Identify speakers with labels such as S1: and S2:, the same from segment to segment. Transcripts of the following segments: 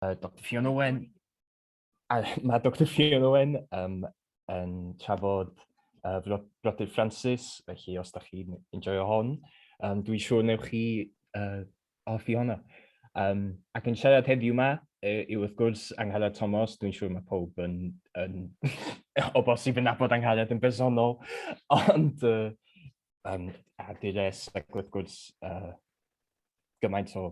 S1: uh, Dr Ffion Owen, a mae Dr Ffion Owen um, yn trafod uh, Brodyr Francis, felly os da chi'n enjoyo hon, um, dwi'n siŵr newch chi uh, hoffi honno. Um, ac yn siarad heddiw yma, e, yw wrth gwrs Angharad Thomas, dwi'n siŵr mae pob yn, yn o bosib yn nabod Angharad yn bersonol, ond uh, um, a dires ac wrth gwrs uh, gymaint o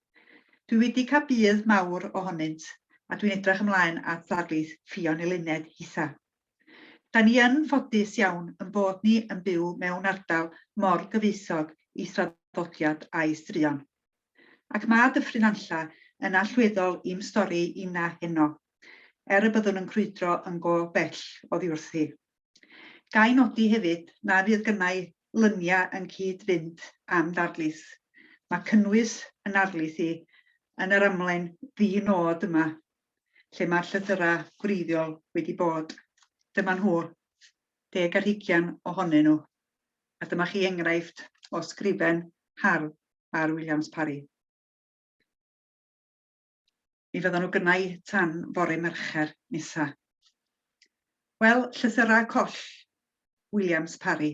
S1: Dwi wedi cael budd mawr ohonynt a dwi'n edrych ymlaen at ddarlith Ffion Eluned hitha. Da ni yn ffodus iawn yn bod ni yn byw mewn ardal mor gyfoethog i thraddodiad a'i struon. Ac mae Dyffryn Nantlla yn allweddol i'm stori inna heno, er y byddwn yn crwydro yn go bell oddiwrthi. Gai nodi hefyd na fydd gynnau luniau yn cyd-fynd â'm darlith. Mae cynnwys yn narlith i yn yr amlen ddi-nod yma, lle mae'r llythyrau gwreiddiol wedi bod. Dyma nhw, deg ar hugian ohonyn nhw, a dyma chi enghraifft o sgrifen hardd ar Williams Parry. Mi fyddan nhw gynna i tan fore Mercher nesa. Wel, llythyrau coll, Williams Parry.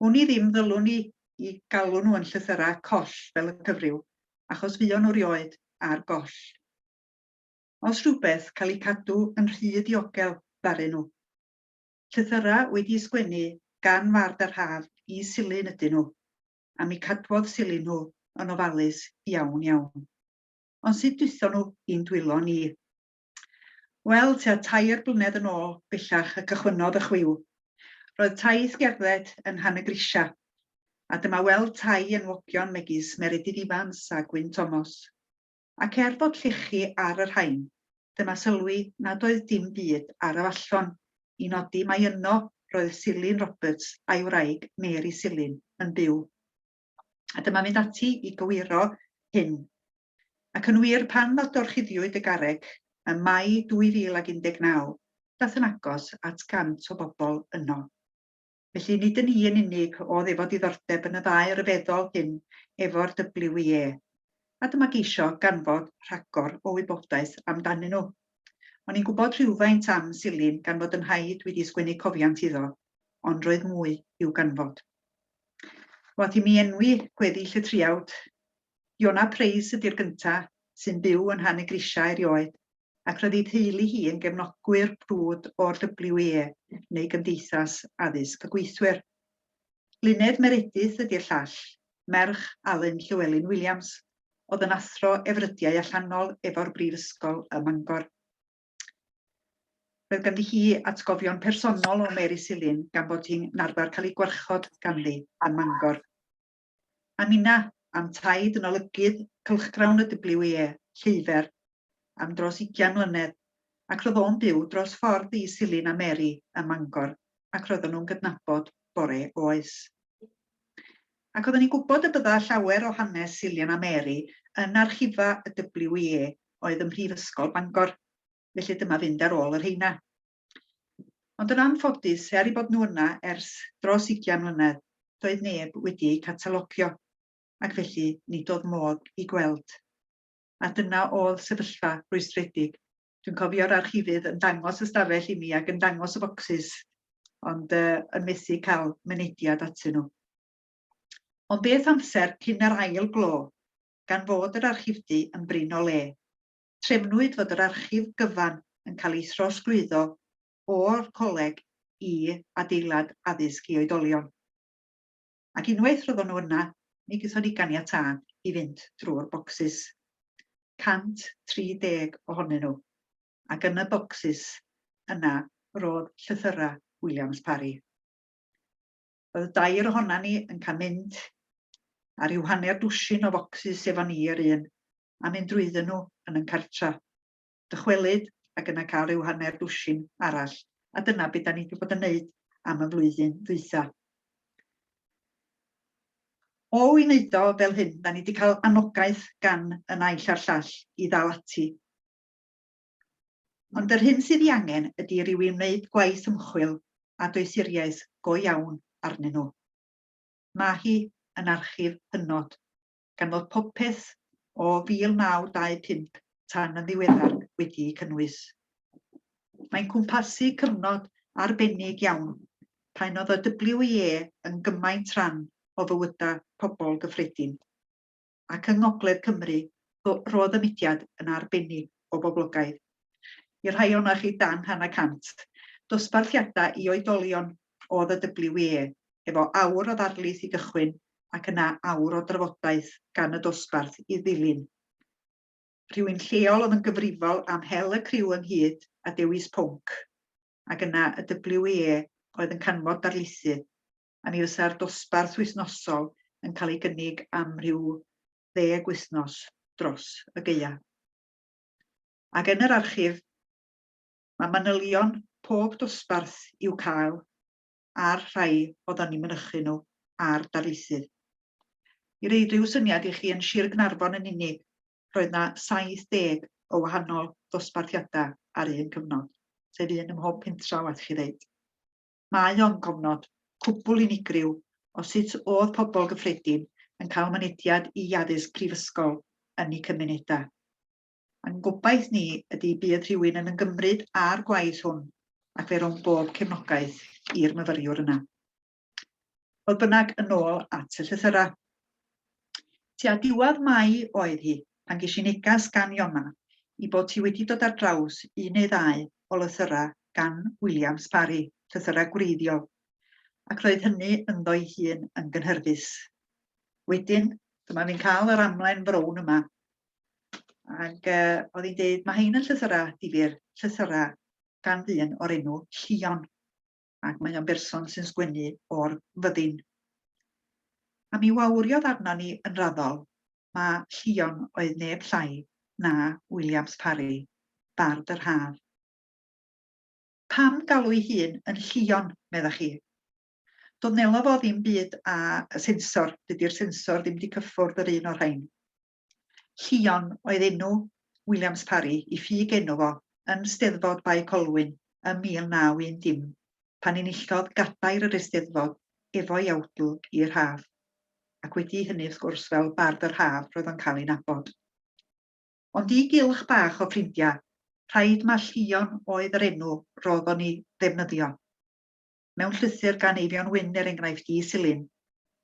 S1: Wn i ddim ddylwn i i galw nhw yn llythyrau coll fel y cyfryw, achos fuon nhw rioed ar goll. Os rhywbeth, cael eu cadw yn rhy diogel ddaru nhw. Llythyrau wedi'u sgwennu gan fard yr haf i Silyn ydyn nhw, a mi cadwodd sili nhw yn ofalus iawn iawn. Ond sut dwytho nhw i'n dwylo ni? Wel, tua tair blynedd yn ôl bellach y cychwynnodd y chwiw. Roedd taith gerdded yn Rhan y Grisia, a dyma weld tai enwogion megis Meredydd Ifans a Gwyn Tomos. ac er bod llechi ar y rhain, dyma sylwi nad oedd dim byd ar y fallon i nodi mai yno roedd Silyn Roberts a'i wraig Mary Silyn yn byw. A dyma mynd ati i gywiro hyn. Ac yn wir, pan ddadorchuddiwyd y garreg ym Mai 2019, dath yn agos at 100 o bobl yno. Felly, nid yn i yn unig oedd efo diddordeb yn y ddau ryfeddol hyn efo'r WIE, a dyma geisio ganfod rhagor o wybodaeth amdanyn nhw. O'n i'n gwybod rhywfaint am Silin gan fod yn nhaid wedi sgwennu cofiant iddo, ond roedd mwy i'w ganfod. Wath i mi enwi gweddill y triawd, Iona Preis ydy'r gynta, sy'n byw yn Nhan y Grisiau erioed, ac roedd ei theulu hi yn gefnogwyr brwd o'r WIE, neu Gymdeithas Addysg y Gweithwyr. Luned Meredith ydi'r llall, merch Alun Llewelyn Williams, oedd yn athro efrydiau allanol efo'r Brifysgol ym Mangor. Roedd ganddi hi atgofion personol o Mary Silyn gan fod hi'n arfer cael ei gwarchod ganddi ym Mangor. A ninna, am taid yn olygydd cylchgrawn y WEA, Lleufer, am dros ugian mlynedd, ac roedd o'n byw dros ffordd i Silyn a Mary ym Mangor, ac roedden nhw'n gydnabod bore oes. Ac oedden ni'n gwybod y bydda llawer o hanes Silyn a Mary yn archifa y WEA oedd ym Mhrifysgol Bangor, felly dyma fynd ar ôl y rheina. Ond yn anffodus, er eu bod nhw yna ers dros ugian mlynedd, doedd neb wedi eu catalogio, ac felly nid oedd modd eu gweld. A dyna oedd sefyllfa rhwystredig. Dwi'n cofio'r archifydd yn dangos y stafell i mi ac yn dangos y focsys, ond uh, yn methu cael mynediad atyn nhw. Ond beth amser cyn yr ail glo, gan fod yr archifdy yn brin o le. trefnwyd fod yr archif gyfan yn cael ei throsglwyddo o'r coleg i adeilad addysg i oedolion. Ac unwaith roeddon nhw yna, mi gaethon ni ganiatâd i fynd drwy'r bocsys, 130 ohonyn nhw, ac yn y bocsys yna roedd llythyrau Williams Parry. Roedd y dair ohonan ni yn cael mynd ar ryw hanner dwsin o focsys efo ni yr un, a mynd drwydden nhw yn yn cartra. Dychwelyd ac yna cael ryw hanner dwsin arall, a dyna be da ni wedi bod yn neud am y flwyddyn ddwytha. O i wneud o fel hyn, da ni wedi cael anogaeth gan y naill a'r llall i ddal ati. Ond yr hyn sydd ei angen ydy rhyw i wneud gwaith ymchwil a doethuriaeth go iawn arnyn nhw. Mae hi yn archif hynod, gan fod popeth o 1925 tan yn ddiweddar wedi'i cynnwys. Mae'n cwmpasu cyfnod arbennig iawn pan oedd y WIE yn gymaint rhan o fywydau pobl gyffredin. ac yng Ngogledd Cymru roedd y mudiad yn arbennig o boblogaidd. Y rhai ohonoch chi dan hanner cant. Dosbarthiadau i oedolion oedd y WWE, efo awr o ddarlith i gychwyn ac yna awr o drafodaeth gan y dosbarth i ddilyn. Rhywun lleol oedd yn gyfrifol am hel y criw ynghyd a dewis pwnc, ac yna y WWE oedd yn canfod darlithydd. a mi fysa'r dosbarth wythnosol yn cael ei gynnig am rhyw ddeg wythnos dros y geia. Ac yn yr archif, mae manylion pob dosbarth i'w cael a'r rhai oeddwn ni'n mynychu nhw a'r darlithydd. I roi rhyw syniad i chi, yn Sir Gnarfon yn unig, roedd yna 70 o wahanol ddosbarthiadau ar un cyfnod, sef un ym mhob pentra, waeth chi ddeud. Mae o'n gofnod cwbwl unigryw o sut o'dd pobl gyffredin yn cael mynediad i addysg prifysgol yn eu cymunedau. A'n gobaith ni ydi bydd rhywun yn yngymryd â'r gwaith hwn ac fe rown bob cefnogaeth i'r myfyriwr yna. Fodd bynnag, yn ôl at y llythyrau. Tua diwedd Mai oedd hi pan ges i neges gan Iona i bod hi wedi dod ar draws un neu ddau o lythyrau gan William Sparry, llythyrau gwreiddiol, ac roedd hynny ynddo'i hun yn gynhyrfus. Wedyn, dyma fi'n cael yr amlen frown yma, ac uh, oedd hi'n dweud, mae hein yn llythyrau difyr, llythyrau gan ddyn o'r enw Llion. ac mae o'n berson sy'n sgwennu o'r fyddin. A mi wawriodd arno ni yn raddol, ma Llion oedd neb llai na Williams Parry, bard yr haf. Pam galw'i hun yn Llion, meddach chi? Doedd Nelo fo ddim byd a sensor, dydy'r sensor ddim wedi cyffwrdd yr un o'r rhain. Llion oedd enw Williams Parry i ffug enw fo yn Steddfod Bae Colwyn ym 1910, pan enillodd gadair yr Eisteddfod efo'i awdl i'r haf, ac wedi hynny wrth gwrs fel Bard yr Haf roedd o'n cael ei nabod. Ond i gylch bach o ffrindia, rhaid ma Llion oedd yr enw rodd o'n i ddefnyddio. mewn llythyr gan Eifion Wyn er enghraifft i Silyn,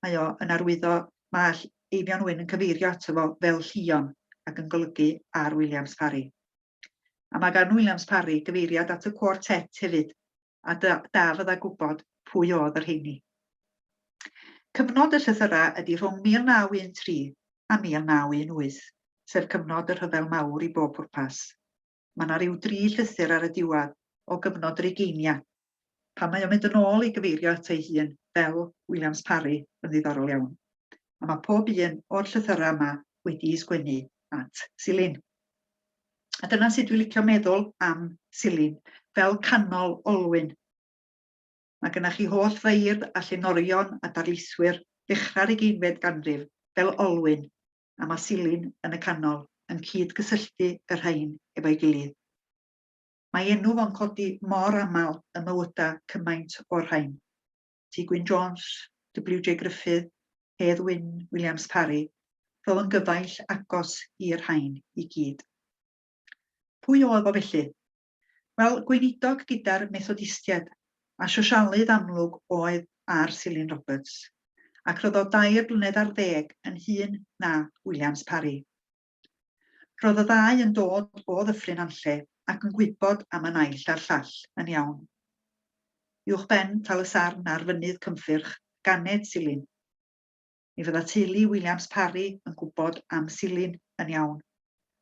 S1: mae o yn arwyddo, mae Eifion Wyn yn cyfeirio ato fo fel Llion ac yn golygu ar Williams Parry. A mae gan Williams Parry gyfeiriad at y quartet hefyd, a da, da fydda gwybod pwy oedd yr heini. Cyfnod y llythyrau ydy rhwng 1913 a 1918, sef cyfnod y rhyfel mawr i bob pwrpas. Mae yna ryw dri llythyr ar y diwedd o gyfnod yr ugeinia. Pan mae o'n mynd yn ôl i gyfeirio ato ei hun fel Williams Parry yn ddiddorol iawn. A mae pob un o'r llythyrau yma wedi'i sgwennu at Silin. A dyna sut dwi licio meddwl am Silin, fel canol olwyn. Mae gynnach chi holl feirdd a llenorion a darlithwyr ddechrau'r ugeinfed ganrif fel olwyn a ma Silin yn y canol yn cyd-gysylltu y rhain efo'i gilydd. Mae enw fo'n codi mor aml ym mywyda cymaint o'r rhain. T Gwyn Jones, WJ Gruffydd, Hedd Wyn Williams Parry, rho yn gyfaill agos i'r rhain i gyd. Pwy oedd o felly? Wel, gweinidog gyda'r Methodistiaid, a Sosialydd amlwg oedd ar Silyn Roberts, ac roedd o dair blynedd ar ddeg yn hŷn na Williams Parry. Roedd y ddau yn dod o Ddyffryn Anlle ac yn gwybod am y naill a'r llall yn iawn. Uwchben Tal-y-sarn ar Fynydd Cynffyrch, ganed Silyn. mi fydda teulu Williams Parry yn gwybod am Silyn yn iawn,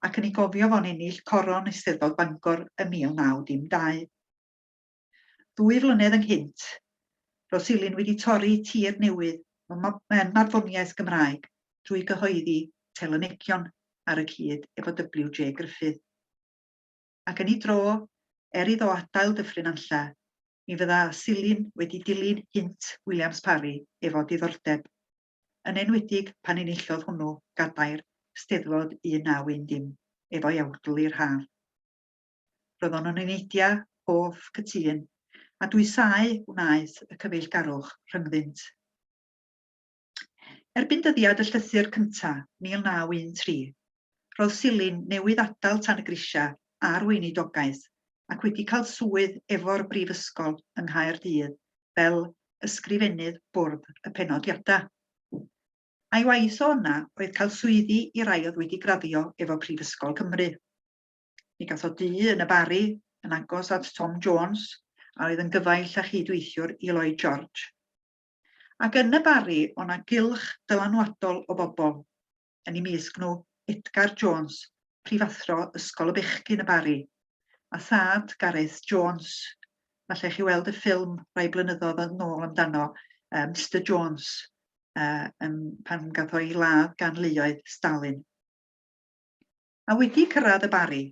S1: ac yn ei gofio fo'n ennill coron Eisteddfod Bangor ym 1912. Ddwy flynedd ynghynt, roedd Silyn wedi torri tir newydd mewn marddoniaeth Gymraeg drwy gyhoeddi telynegion ar y cyd efo WJ Gruffydd. Ac yn ei dro, er iddo adael Dyffryn Nantlle, mi fydda Silin wedi dilyn Hynt Williams Parry efo diddordeb, yn enwedig pan enillodd hwnnw gadair Steddfod 1910 efo'i awdl i'r haf. Roedd o'n yn eneidia hoff cytûn, a dwysau wnaeth y cyfeillgarwch rhyngddynt. Erbyn dyddiad y llythyr cynta, 1913, roedd Silyn newydd adael tan y grisiau a'r weinidogaeth ac wedi cael swydd efo'r Brifysgol yng Nghaerdydd fel Ysgrifennydd Bwrdd y Penodiadau. A'i waith o yna oedd cael swyddi i rai oedd wedi graddio efo Prifysgol Cymru. Mi gath o dŷ yn y Barri, yn agos at Tom Jones, a oedd yn gyfaill a chyd-weithiwr i Lloyd George. Ac yn y Barri o' 'na gylch dylanwadol o bobl, yn i mysg nhw Edgar Jones, prifathro Ysgol y Bechgyn y Barri, a thad Gareth Jones, falle chi weld y ffilm rai blynyddodd yn nôl amdano, uh, Mister Jones, uh, um, pan gath o'i ladd gan luoedd Stalin. A wedi cyrraedd y Barri,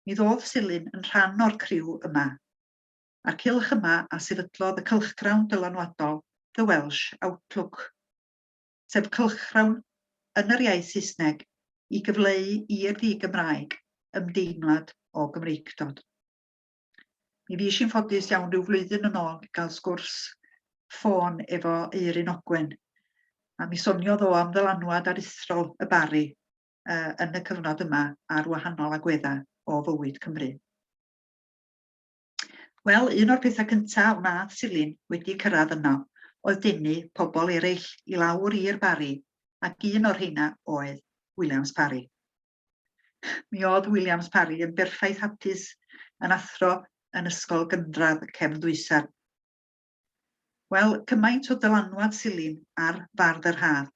S1: mi ddodd Silyn yn rhan o'r criw yma. a'r cylch yma a sefydlodd y cylchgrawn dylanwadol The Welsh Outlook, sef cylchgrawn yn yr iaith Saesneg i gyfleu i'r ddi-Gymraeg ymdeimlad o Gymreictod. Mi fues i'n ffodus iawn rhyw flwyddyn yn ôl i gael sgwrs ffôn efo Eirin Ogwen, a mi soniodd o am ddylanwad aruthrol y Bari uh, yn y cyfnod yma ar wahanol agweddau o fywyd Cymru. Wel, un o'r pethau cynta a wnaeth Silin wedi cyrraedd yno oedd denu pobl eraill i lawr i'r Barri, ac un o'r rheina oedd Williams Parry. Mi oedd Williams Parry yn berffaith hapus yn athro yn ysgol gynradd y cefn ddwysan. Wel, cymaint o dylanwad Silin ar fardd yr haf,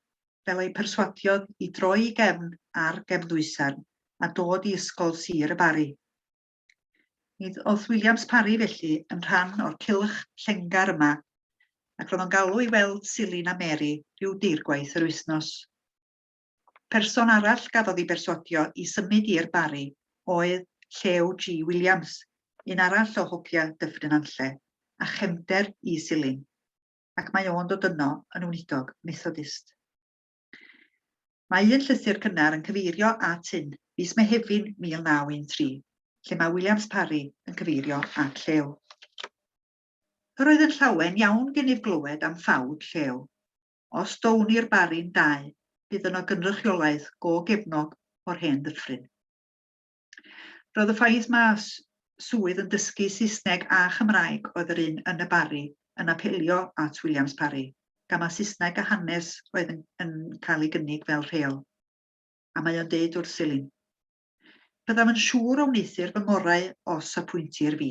S1: fel ei perswadiodd i droi i gefn ar gefn ddwysan a dod i ysgol sir y Barri. Nid oedd Williams Parry felly yn rhan o'r cylch llengar yma, ac roedd o'n galw i weld Silin a Mary rhyw deirgwaith yr wythnos. Person arall gafodd ei bersuadio i symud i'r Barri oedd Llew G Williams, un arall o hogia Dyffryn Anlle, a chefnder i Silin, ac mae o'n dod yno yn wnidog Methodist. Mae un llythyr cynnar yn cyfeirio at hyn, fis Mehefin 1913, lle mae Williams Parry yn cyfeirio at Llew. Yr oedd yn llawen iawn gennyf glywed am ffawd Llew. Os do wn i'r Barry'n dau, bydd yno gynrychiolaeth go gefnog o'r hen ddyffryn. Roedd y ffaith ma swydd yn dysgu Saesneg a Chymraeg oedd yr un yn y Barri yn apelio at Williams Parry, gan mae Saesneg a hanes oedd yn, yn cael ei gynnig fel rheol. A mae o'n deud wrth Silin. Byddaf yn siŵr o wneuthur fy ngorau os apwyntir fi,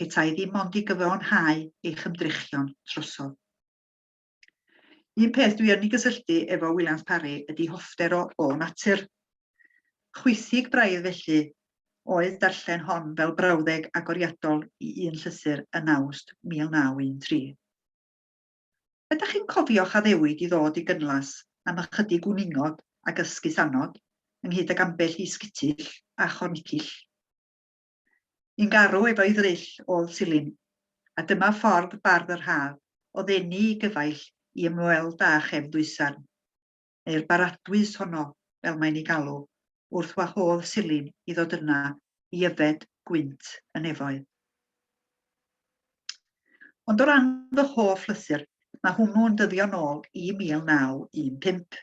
S1: petai ddim ond i gyfiawnhau eich ymdrechion trosodd. Un peth dwi yn ei gysylltu efo Williams Parry ydi hoffter o, o natur. Chwithig braidd felly oedd darllen hon fel brawddeg agoriadol i un llythyr yn Awst 1913. Ydych chi'n cofio'ch addewid i ddod i Gynlas am ychydig gwningod ac ysgusannod, ynghyd ag ambell i sgitill a chornicill? Yn garw efo'i ddryll ôl silin, a dyma ffordd bardd yr haf o ddenu i gyfaill i ymweld â chefn ddwysarn, neu'r baradwys honno fel mae'n ei galw, wrth wahodd silin i ddod yna i yfed gwynt y nefoedd. Ond o ran fy hoff lythyr, mae hwnnw'n dyddio nôl i 1915.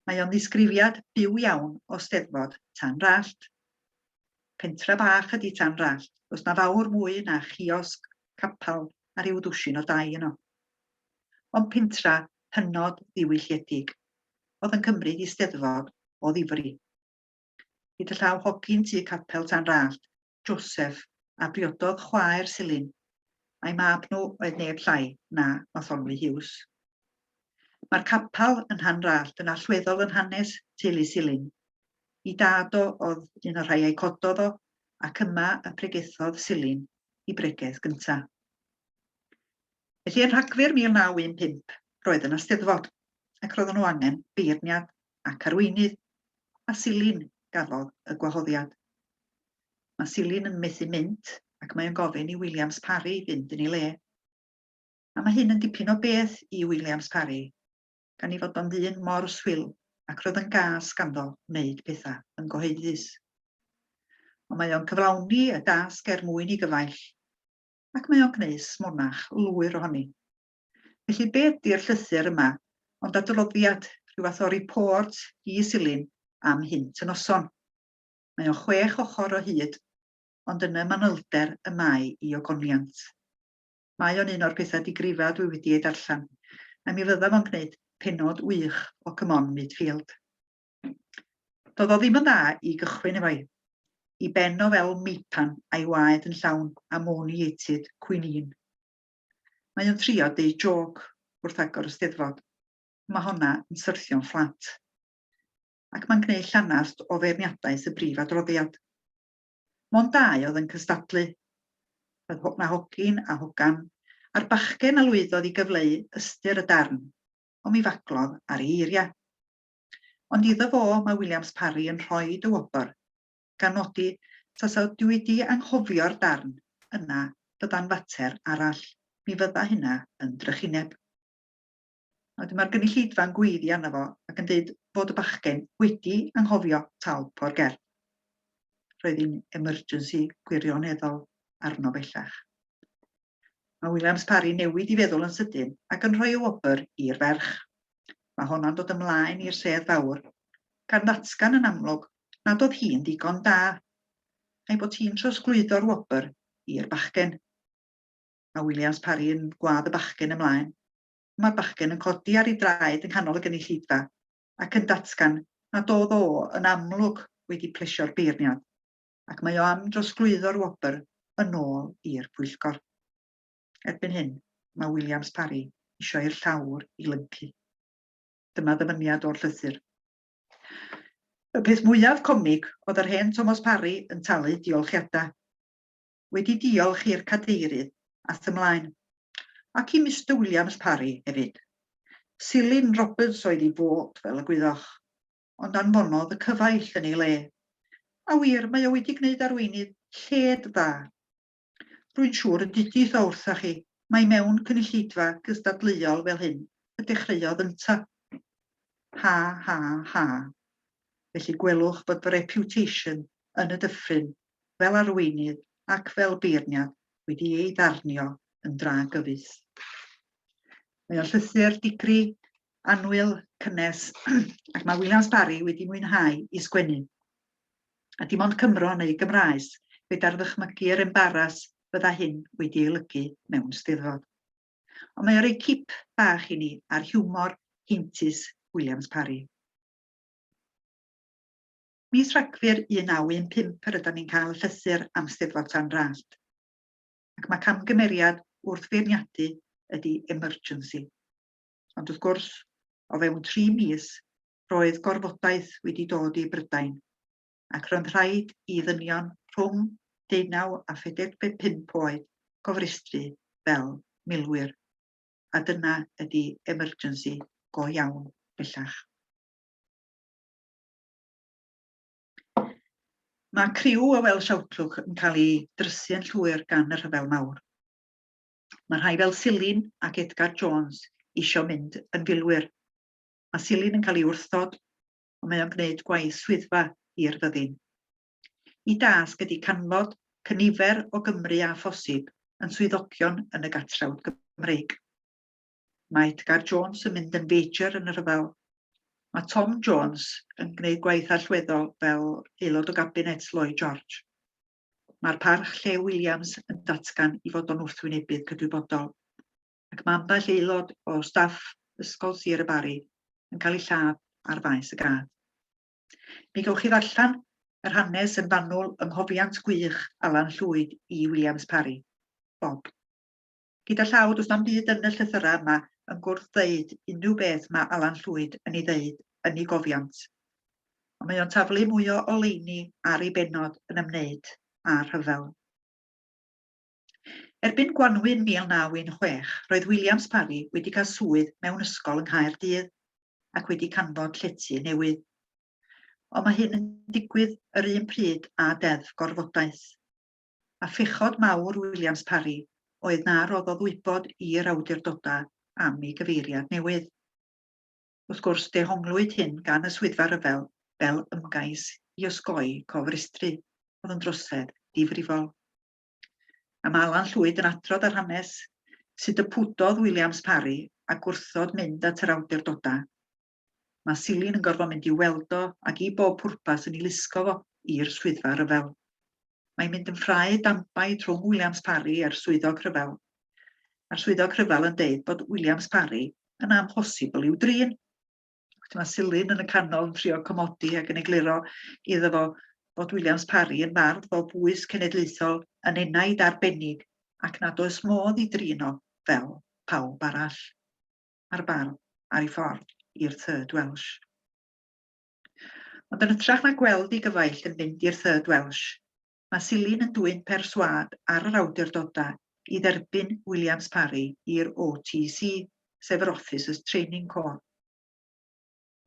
S1: Mae o'n ddisgrifiad byw iawn o Steddfod Tan Rallt. Pentra bach ydi Tan Rallt, does na fawr mwy na chiosg, capal a rhyw ddwsin o dai yno. Ond pentra hynod ddiwylliedig, oedd yn cymryd i Steddfod o ddifri. Hyd y llaw hogyn tu capel Tan Rallt, Joseph, a briododd chwaer Silin, a'i mab nhw oedd neb llai na Matholwy Hughes. Mae'r capal yn Nhan Rallt yn allweddol yn hanes teulu Silin, Ei dad o oedd un o'r rhai a'i cododd o, ac yma y pregethodd Silin i bregeth gynta. Felly yn Rhagfyr 1915, roedd yna Steddfod, ac roedden nhw angen beirniad ac arweinydd, a Silin gafodd y gwahoddiad. Mae Silin yn methu mynd, ac mae o'n gofyn i Williams Parry fynd yn ei le. A mae hyn yn dipyn o beth i Williams Parry. gan ei fod o'n ddyn mor swil ac roedd yn gas ganddo wneud pethau yn gyhoeddus. Ond mae o'n cyflawni y dasg er mwyn i gyfaill, ac mae o'n gwneud smonach lwyr ohoni. Felly be ydy'r llythyr yma ond adroddiad, rhyw fath o report i Silin am hynt y noson. Mae o'n chwech ochr o hyd, ond yn y manylder y mae i ogoniant. Mae o'n un o'r petha digrifaf dwi wedi eu darllen, a mi fydda fo'n gneud pennod wych o Come On Mid Field. Do'dd o ddim yn dda i gychwyn efo'i i ben o fel meipan a'i waed yn llawn ammoniated quinine. Mae o'n trio deud jôc wrth agor y Steddfod, ond mae honna yn syrthio'n fflat. Ac mae'n gneud llanast o feirniadaeth y brif adroddiad. Mond dau oedd yn cystadlu. Roedd Mae Hogyn a Hogan a'r bachgen a lwyddodd i gyfleu ystyr y darn, ond mi faglodd ar ei eiriau. Ond iddo fo mae Williams Parry yn rhoi dy wobr, gan nodi tasa dwi wedi anghofio'r darn yna bydda'n fater arall, mi fydda hynna yn drychineb. A wedyn mae'r gynulleidfa'n gweiddi arno fo ac yn deud fod y bachgen wedi anghofio talp o'r gerdd. Roedd hi'n emergency gwirioneddol arno bellach. Mae Williams Parry newid i feddwl yn sydyn ac yn rhoi y wobr i'r ferch. Mae honno'n dod ymlaen i'r sedd fawr, gan ddatgan yn amlwg nad oedd hi'n ddigon da, a'i bod hi'n trosglwyddo'r wobr i'r bachgen. Mae Williams Parry yn gwadd y bachgen ymlaen Mae'r bachgen yn codi ar ei draed yng nghanol y gynulleidfa ac yn datgan nad oedd o yn amlwg wedi plesio'r beirniad, ac mae o am drosglwyddo'r wobr yn ôl i'r pwyllgor. Erbyn hyn, mae Williams Parry eisiau i'r llawr i lyncu. Dyma ddyfyniad o'r llythyr. Y peth mwyaf comig oedd yr hen Thomas Parry yn talu diolchiadau. wedi diolch i'r Cadeirydd a thu 'mlaen, ac i Mister Williams Parry hefyd. Silyn Roberts oedd ei fot, fel y gwyddoch, ond anfonodd y cyfaill yn ei le. A wir, mae o wedi gwneud arweinydd lled dda. Rwy'n siŵr y dudith o wrthoch chi mai mewn cynulleidfa gystadleuol fel hyn y dechreuodd ynta. Ha, ha, ha. Felly gwelwch bod fy reputation yn y dyffryn fel arweinydd ac fel beirniad wedi ei ddarnio yn dra gyfoes. Mae o'n llythyr digri, anwyl, cynnes, ac mae Williams Barry wedi mwynhau i sgwennu. A dim ond Cymro neu Gymraes, gyda'r ddychmygu yr embaras fydda hyn wedi ei lygu mewn steddfod. Ond mae o rei cip bach i ni ar hiwmor heintus Williams Parry. Mis Rhagfyr 1915 yr ydym ni'n cael llythyr am Steddfod San Rallt. Ac mae camgymeriad wrth feirniadu ydy emergency. Ond wrth gwrs, o fewn tri mis, roedd gorfodaeth wedi dod i Brydain, ac roedd rhaid i ddynion rhwng deunaw a phedeg pump oed gofrestru fel milwyr. A dyna ydy emergency go iawn bellach. Mae criw y Welsh Outlook yn cael ei drysu yn llwyr gan y Rhyfel Mawr. Mae rhai fel Silin ac Edgar Jones eisiau mynd yn filwyr. Mae Silin yn cael ei wrthod, ond mae o'n gwneud gwaith swyddfa i'r fyddin. Y dasg ydy canfod cynifer o Gymry a phosib yn swyddogion yn y Gatrawd Gymreig. Mae Edgar Jones yn mynd yn feijr yn y rhyfel. Mae Tom Jones yn gwneud gwaith allweddol fel aelod o gabinet Lloyd George. Mae'r parch Llew Williams yn datgan i fod o'n wrthwynebydd cydwybodol, ac mae ambell aelod o staff Ysgol Sir y Barri yn cael ei lladd ar faes y gad. Mi gewch chi ddarllen yr hanes yn fanwl yng Nghofiant Gwych Alan Llwyd i Williams Parry. Bob. Gyda llaw, does na'm byd yn y llythyrau yma yn gwrdd ddeud unrhyw beth mae Alan Llwyd yn ei ddeud yn ei gofiant. Ond mae o'n taflu mwy o oleuni ar ei bennod yn ymwneud â'r rhyfel. Erbyn gwanwyn 1916, roedd Williams Parry wedi cael swydd mewn ysgol yng Nghaerdydd ac wedi canfod llety newydd. Ond mae hyn yn digwydd yr un pryd â deddf gorfodaeth. a phechod mawr Williams Parry oedd na roddodd wybod i'r awdurdodau am ei gyfeiriad newydd. Wrth gwrs, dehonglwyd hyn gan y Swyddfa Ryfel fel ymgais i osgoi cofrestru, oedd yn drosedd difrifol. A mae Alan Llwyd yn adrodd ar hanes sut y pwdodd Williams Parry a gwrthod mynd at yr awdurdodau Mae Silin yn gorfod mynd i'w weld o ac i bob pwrpas yn ei lusgo fo i'r swyddfa rhyfel. Mae'n mynd yn ffrae dambaid rhwng Williams Parry a'r swyddog rhyfel. Mae'r swyddog rhyfel yn deud bod Williams Parry yn amhosibl i'w drin. Wedyn mae Silin yn y canol yn trio comodi ac yn egluro iddo fo bod Williams Parry yn fardd fel bwys cenedlaethol yn enaid arbennig ac nad oes modd i drin o fel pawb arall. a'r barn ar ei ffordd i'r Third Welsh. Ond yn ytrach na gweld ei gyfaill yn mynd i'r Third Welsh, mae Silyn yn dwyn perswâd ar yr awdurdodau i dderbyn Williams Parry i'r OTC, sef yr Officers Training Corps.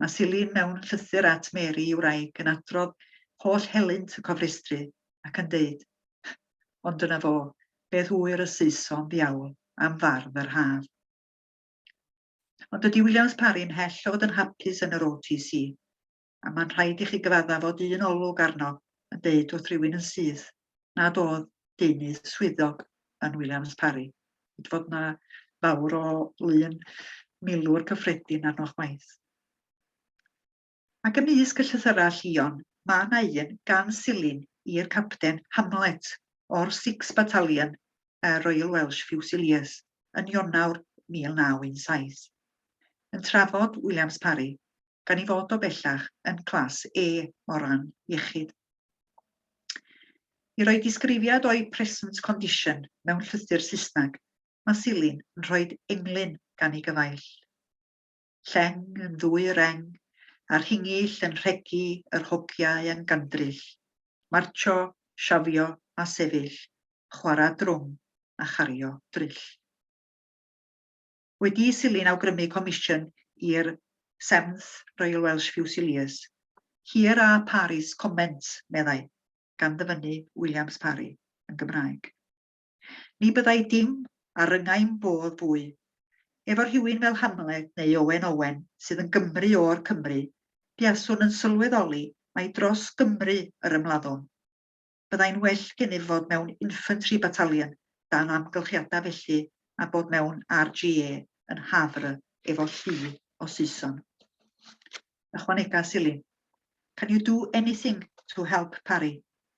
S1: Mae Silyn mewn llythyr at Mary i wraig yn adrodd holl helynt y cofrestru ac yn deud, Ond dyna fo, beth ŵyr y Saeson ddiawl am fardd yr haf. Ond dydy Williams Parry ymhell o fod yn hapus yn yr OTC, a mae'n rhaid i chi gyfadda fod un olwg arno yn deud wrth rywun yn syth nad oedd deunydd swyddog yn Williams Parry. Hyd fod yna fawr o lun milwr cyffredin arnoch waith. Ac ymysg y llythyrau llion, mae 'na un gan Silyn i'r Capten Hamlet o'r Sixth Battalion y Royal Welsh Fusiliers yn Ionawr 1917, yn trafod Williams Parry, gan ei fod o bellach yn Class A o ran iechyd. I roi disgrifiad o'i present condition mewn llythyr Saesneg, mae Silyn yn rhoi englyn gan ei gyfaill. Lleng yn ddwy reng, a rhingyll yn rhegi yr hogiau yn gandryll, martsio, siafio a sefyll, chwarae drwm a chario dryll. Wedi i Silyn awgrymu comisiwn i'r Seventh Royal Welsh Fusiliers, Here are Parry's comments, meddai, gan ddyfynnu Williams Parry, yn Gymraeg. Ni byddai dim ar ryngaim fodd fwy. Efo rhywun fel Hamlet neu Owen Owen sydd yn Gymru o'r Cymry, buaswn yn sylweddoli mai dros Gymru yr ymladdwn. Byddai'n well gennyf fod mewn infantry battalion dan amgylchiadau felly na bod mewn RGA yn Havre efo llu o Saeson. Ychwanega Silin. Can you do anything to help Parry?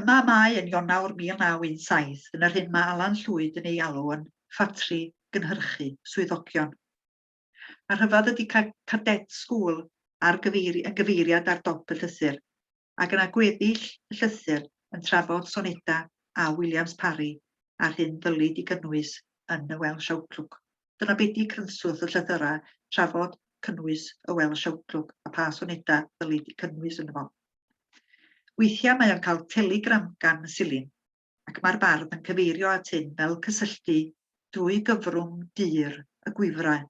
S1: Y Mamau yn Ionawr 1917, yn yr hyn mae Alan Llwyd yn ei alw yn ffatri gynhyrchu swyddogion. A rhyfedd ydy cael cadet school ar gyfeiri, yn gyfeiriad ar dop y llythyr, ac yna gweddill y llythyr yn trafod soneda a Williams Parry a'r hyn ddylid i gynnwys yn y Welsh Outlook. Dyna be di cynswth y llythyrau, trafod, cynnwys, y Welsh Outlook a pha sonedau ddylid eu cynnwys yno fo. Weithiau mae o'n cael telegram gan y silin, ac mae'r bardd yn cyfeirio at hyn fel cysylltu drwy gyfrwng dur y gwifrau.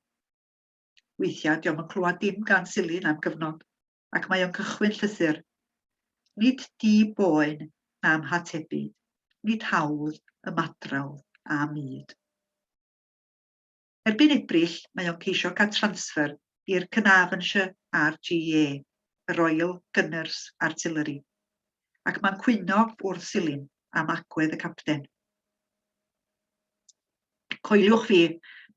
S1: Weithiau diom yn clywed dim gan silin am gyfnod, ac mae o'n cychwyn llythyr. Nid di boen na'm hatebyd, nid hawdd ymadrawdd â myd. Erbyn Ebrill mae o'n ceisio cael transfer i'r Caernarvonshire RGA, y Royal Gunners Artillery, ac mae'n cwyno wrth Silyn am agwedd y capten. Coeliwch fi,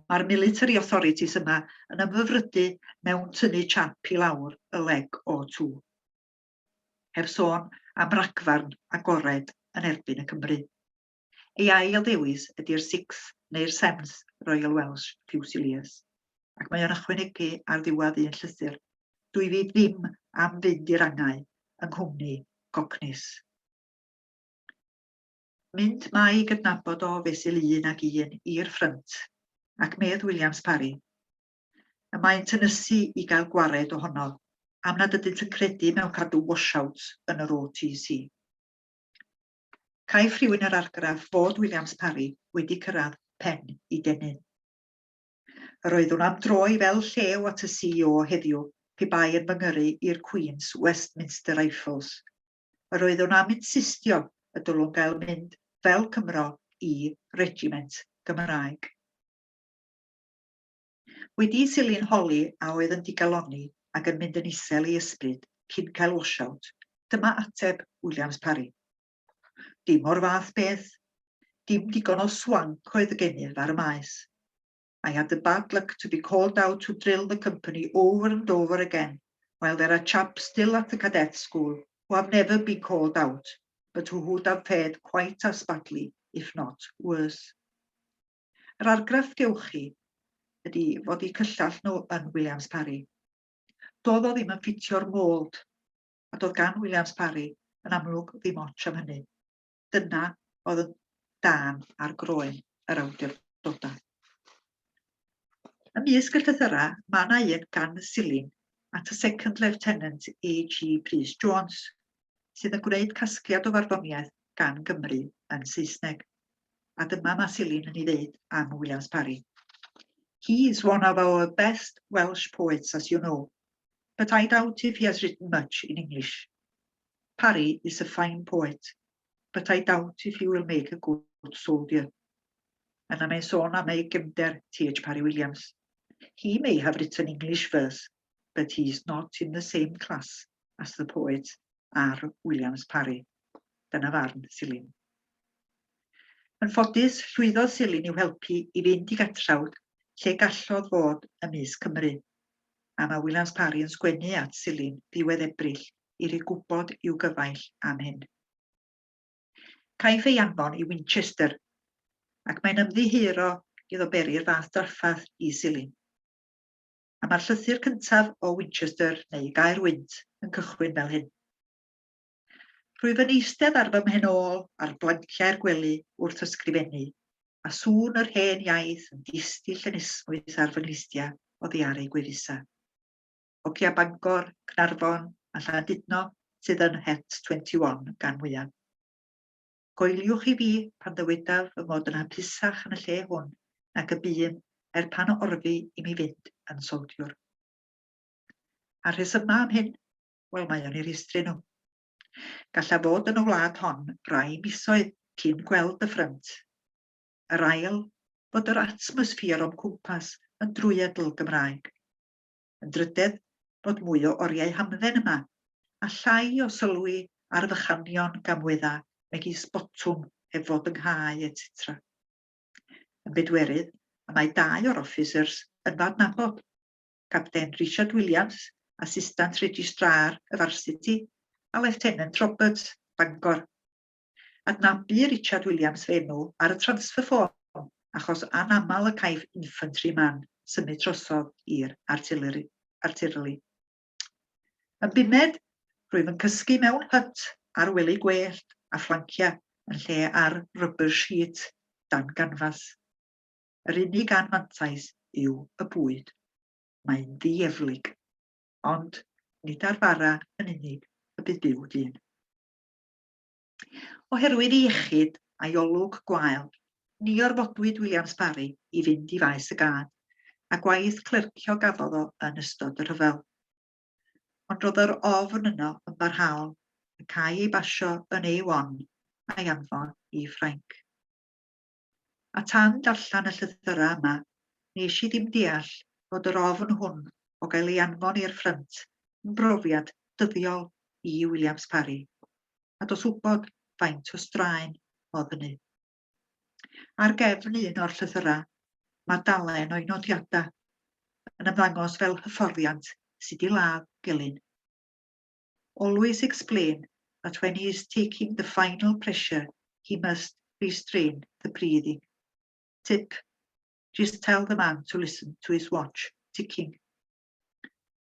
S1: mae'r military authorities yma yn ymfyfrydu mewn tynnu chap i lawr y leg o tŵ. Heb sôn am ragfarn agored yn erbyn y Cymry. Ei ail ddewis ydy'r Six neu'r Sevens Royal Welsh Fusiliers, ac mae o'n ychwanegu ar ddiwedd un llythyr, Dw i ddim am fynd i'r angau yng nghwmni Cockneys. Mynd mae gydnabod o fesul un ag un i'r ffrynt, ac medd Williams Parry, y maent yn ysu i gael gwared ohono am nad ydynt yn credu mewn cadw washouts yn yr OTC. Caiff rhywun yr argraff fod Williams Parry wedi cyrraedd pen i denu. Yr oeddwn am droi fel llew at y CEO heddiw pe bai yn fy ngyrru i'r Queen's Westminster Rifles. Yr oeddwn am insistio y dylwn gael mynd fel Cymro i regiment Gymraeg. Wedi'i sillu'n holi a oedd yn digalonni ac yn mynd yn isel ei ysbryd cyn cael washout, dyma ateb Williams Parry, Dim o'r fath beth. Dim digon o swanc oedd y gennyf ar y maes. I had the bad luck to be called out to drill the company over and over again, while there are chaps still at the cadet school who have never been called out, but who would have fared quite as badly, if not worse. Yr argraff gewch chi ydi fod eu cyllell nhw yn Williams Parry. Doedd o ddim yn ffitio'r mold, a doedd gan Williams Parry yn amlwg ddim otsh am hynny. Dyna oedd yn dan ar groen yr awdurdodau. Ymysg y llythyrau, mae yna un gan y Silin at y Second Lieutenant AG Prys Jones, sydd yn gwneud casgliad o farddoniaeth gan Gymru yn Saesneg. a dyma ma Silyn yn ei ddeud am Williams Parry. He is one of our best Welsh poets, as you know, but I doubt if he has written much in English. Parry is a fine poet, but I doubt if he will make a good soldier. Yna mae'n sôn am ei gefnder, T.H. Parry Williams. He may have written English verse, but he's not in the same class as the poet R. Williams Parry. Dyna farn Silin. Yn ffodus, llwyddodd Silin i'w helpu i fynd i Gatrawd lle gallodd fod ym mis Cymru. A mae Williams Parry yn sgwennu at Silin ddiwedd Ebrill i roi gwybod i'w gyfaill am hyn. Caiff ei anfon i Winchester, ac mae'n ymddiheuro iddo beri'r fath drafferth i Silin. a mae'r llythyr cyntaf o Winchester, neu Gaer Wynt, yn cychwyn fel hyn. Rwyf yn eistedd ar fy mhen ôl ar blanciau'r gwely wrth ysgrifennu, a sŵn yr hen iaith yn distill yn esmwyth ar fy nglustia o ddiaru gwefusa. Hogia Bangor, Cnarfon a Llandudno sydd yn Het 21 gan mwyaf. Coeliwch i fi pan ddywedaf fy mod yn hapusach yn y lle hwn nag y bûm er pan orfu i mi fynd yn soldiwr. A'r rhesymau am hyn? Wel, mae o'n i rhestru nhw. Gallaf fod yn y wlad hon rai misoedd cyn gweld y ffrynt. Yr ail, fod yr atmosffer o'm cwmpas yn drwyadl Gymraeg. Yn drydedd, bod mwy o oriau hamdden yma, a llai o sylwi ar fychanion gamwedda megis botwm heb fod yng nghae, etc. Yn bedwerydd, y mae dau o'r officers yn fy adnabod, Capten Richard Williams, Assistant Registrar y Varsity, a Lieutenant Roberts, Bangor. Adnabu Richard Williams fy enw ar y transfer form achos anaml y caiff infantry man symud drosodd i'r artileri. artileri. Yn bumed, rwyf yn cysgu mewn hyt ar wely gwellt a fflanciau yn lle ar rubber sheet dan ganfas. Yr unig anfantais yw y bwyd. Mae'n ddieflig. Ond nid ar fara yn unig y bydd byw dyn. Oherwydd ei iechyd a'i olwg gwael, ni orfodwyd Williams Parry i fynd i faes y gad, a gwaith clercio gafodd o yn ystod y rhyfel. Ond roedd yr ofn yno yn barhaol, ac a'i ei basio yn A1, a'i anfon i Ffrainc. A tan darllen y llythyrau yma, nes i ddim deall fod yr ofn hwn o gael ei anfon i'r ffrynt yn brofiad dyddiol i Williams Parry, a dos wybod faint o straen oedd hynny. Ar gefn un o'r llythyrau, mae dalen o'i nodiadau yn ymddangos fel hyfforddiant sut i ladd gelyn. Always explain that when he is taking the final pressure he must restrain the breathing. Tip, Just tell the man to listen to his watch ticking.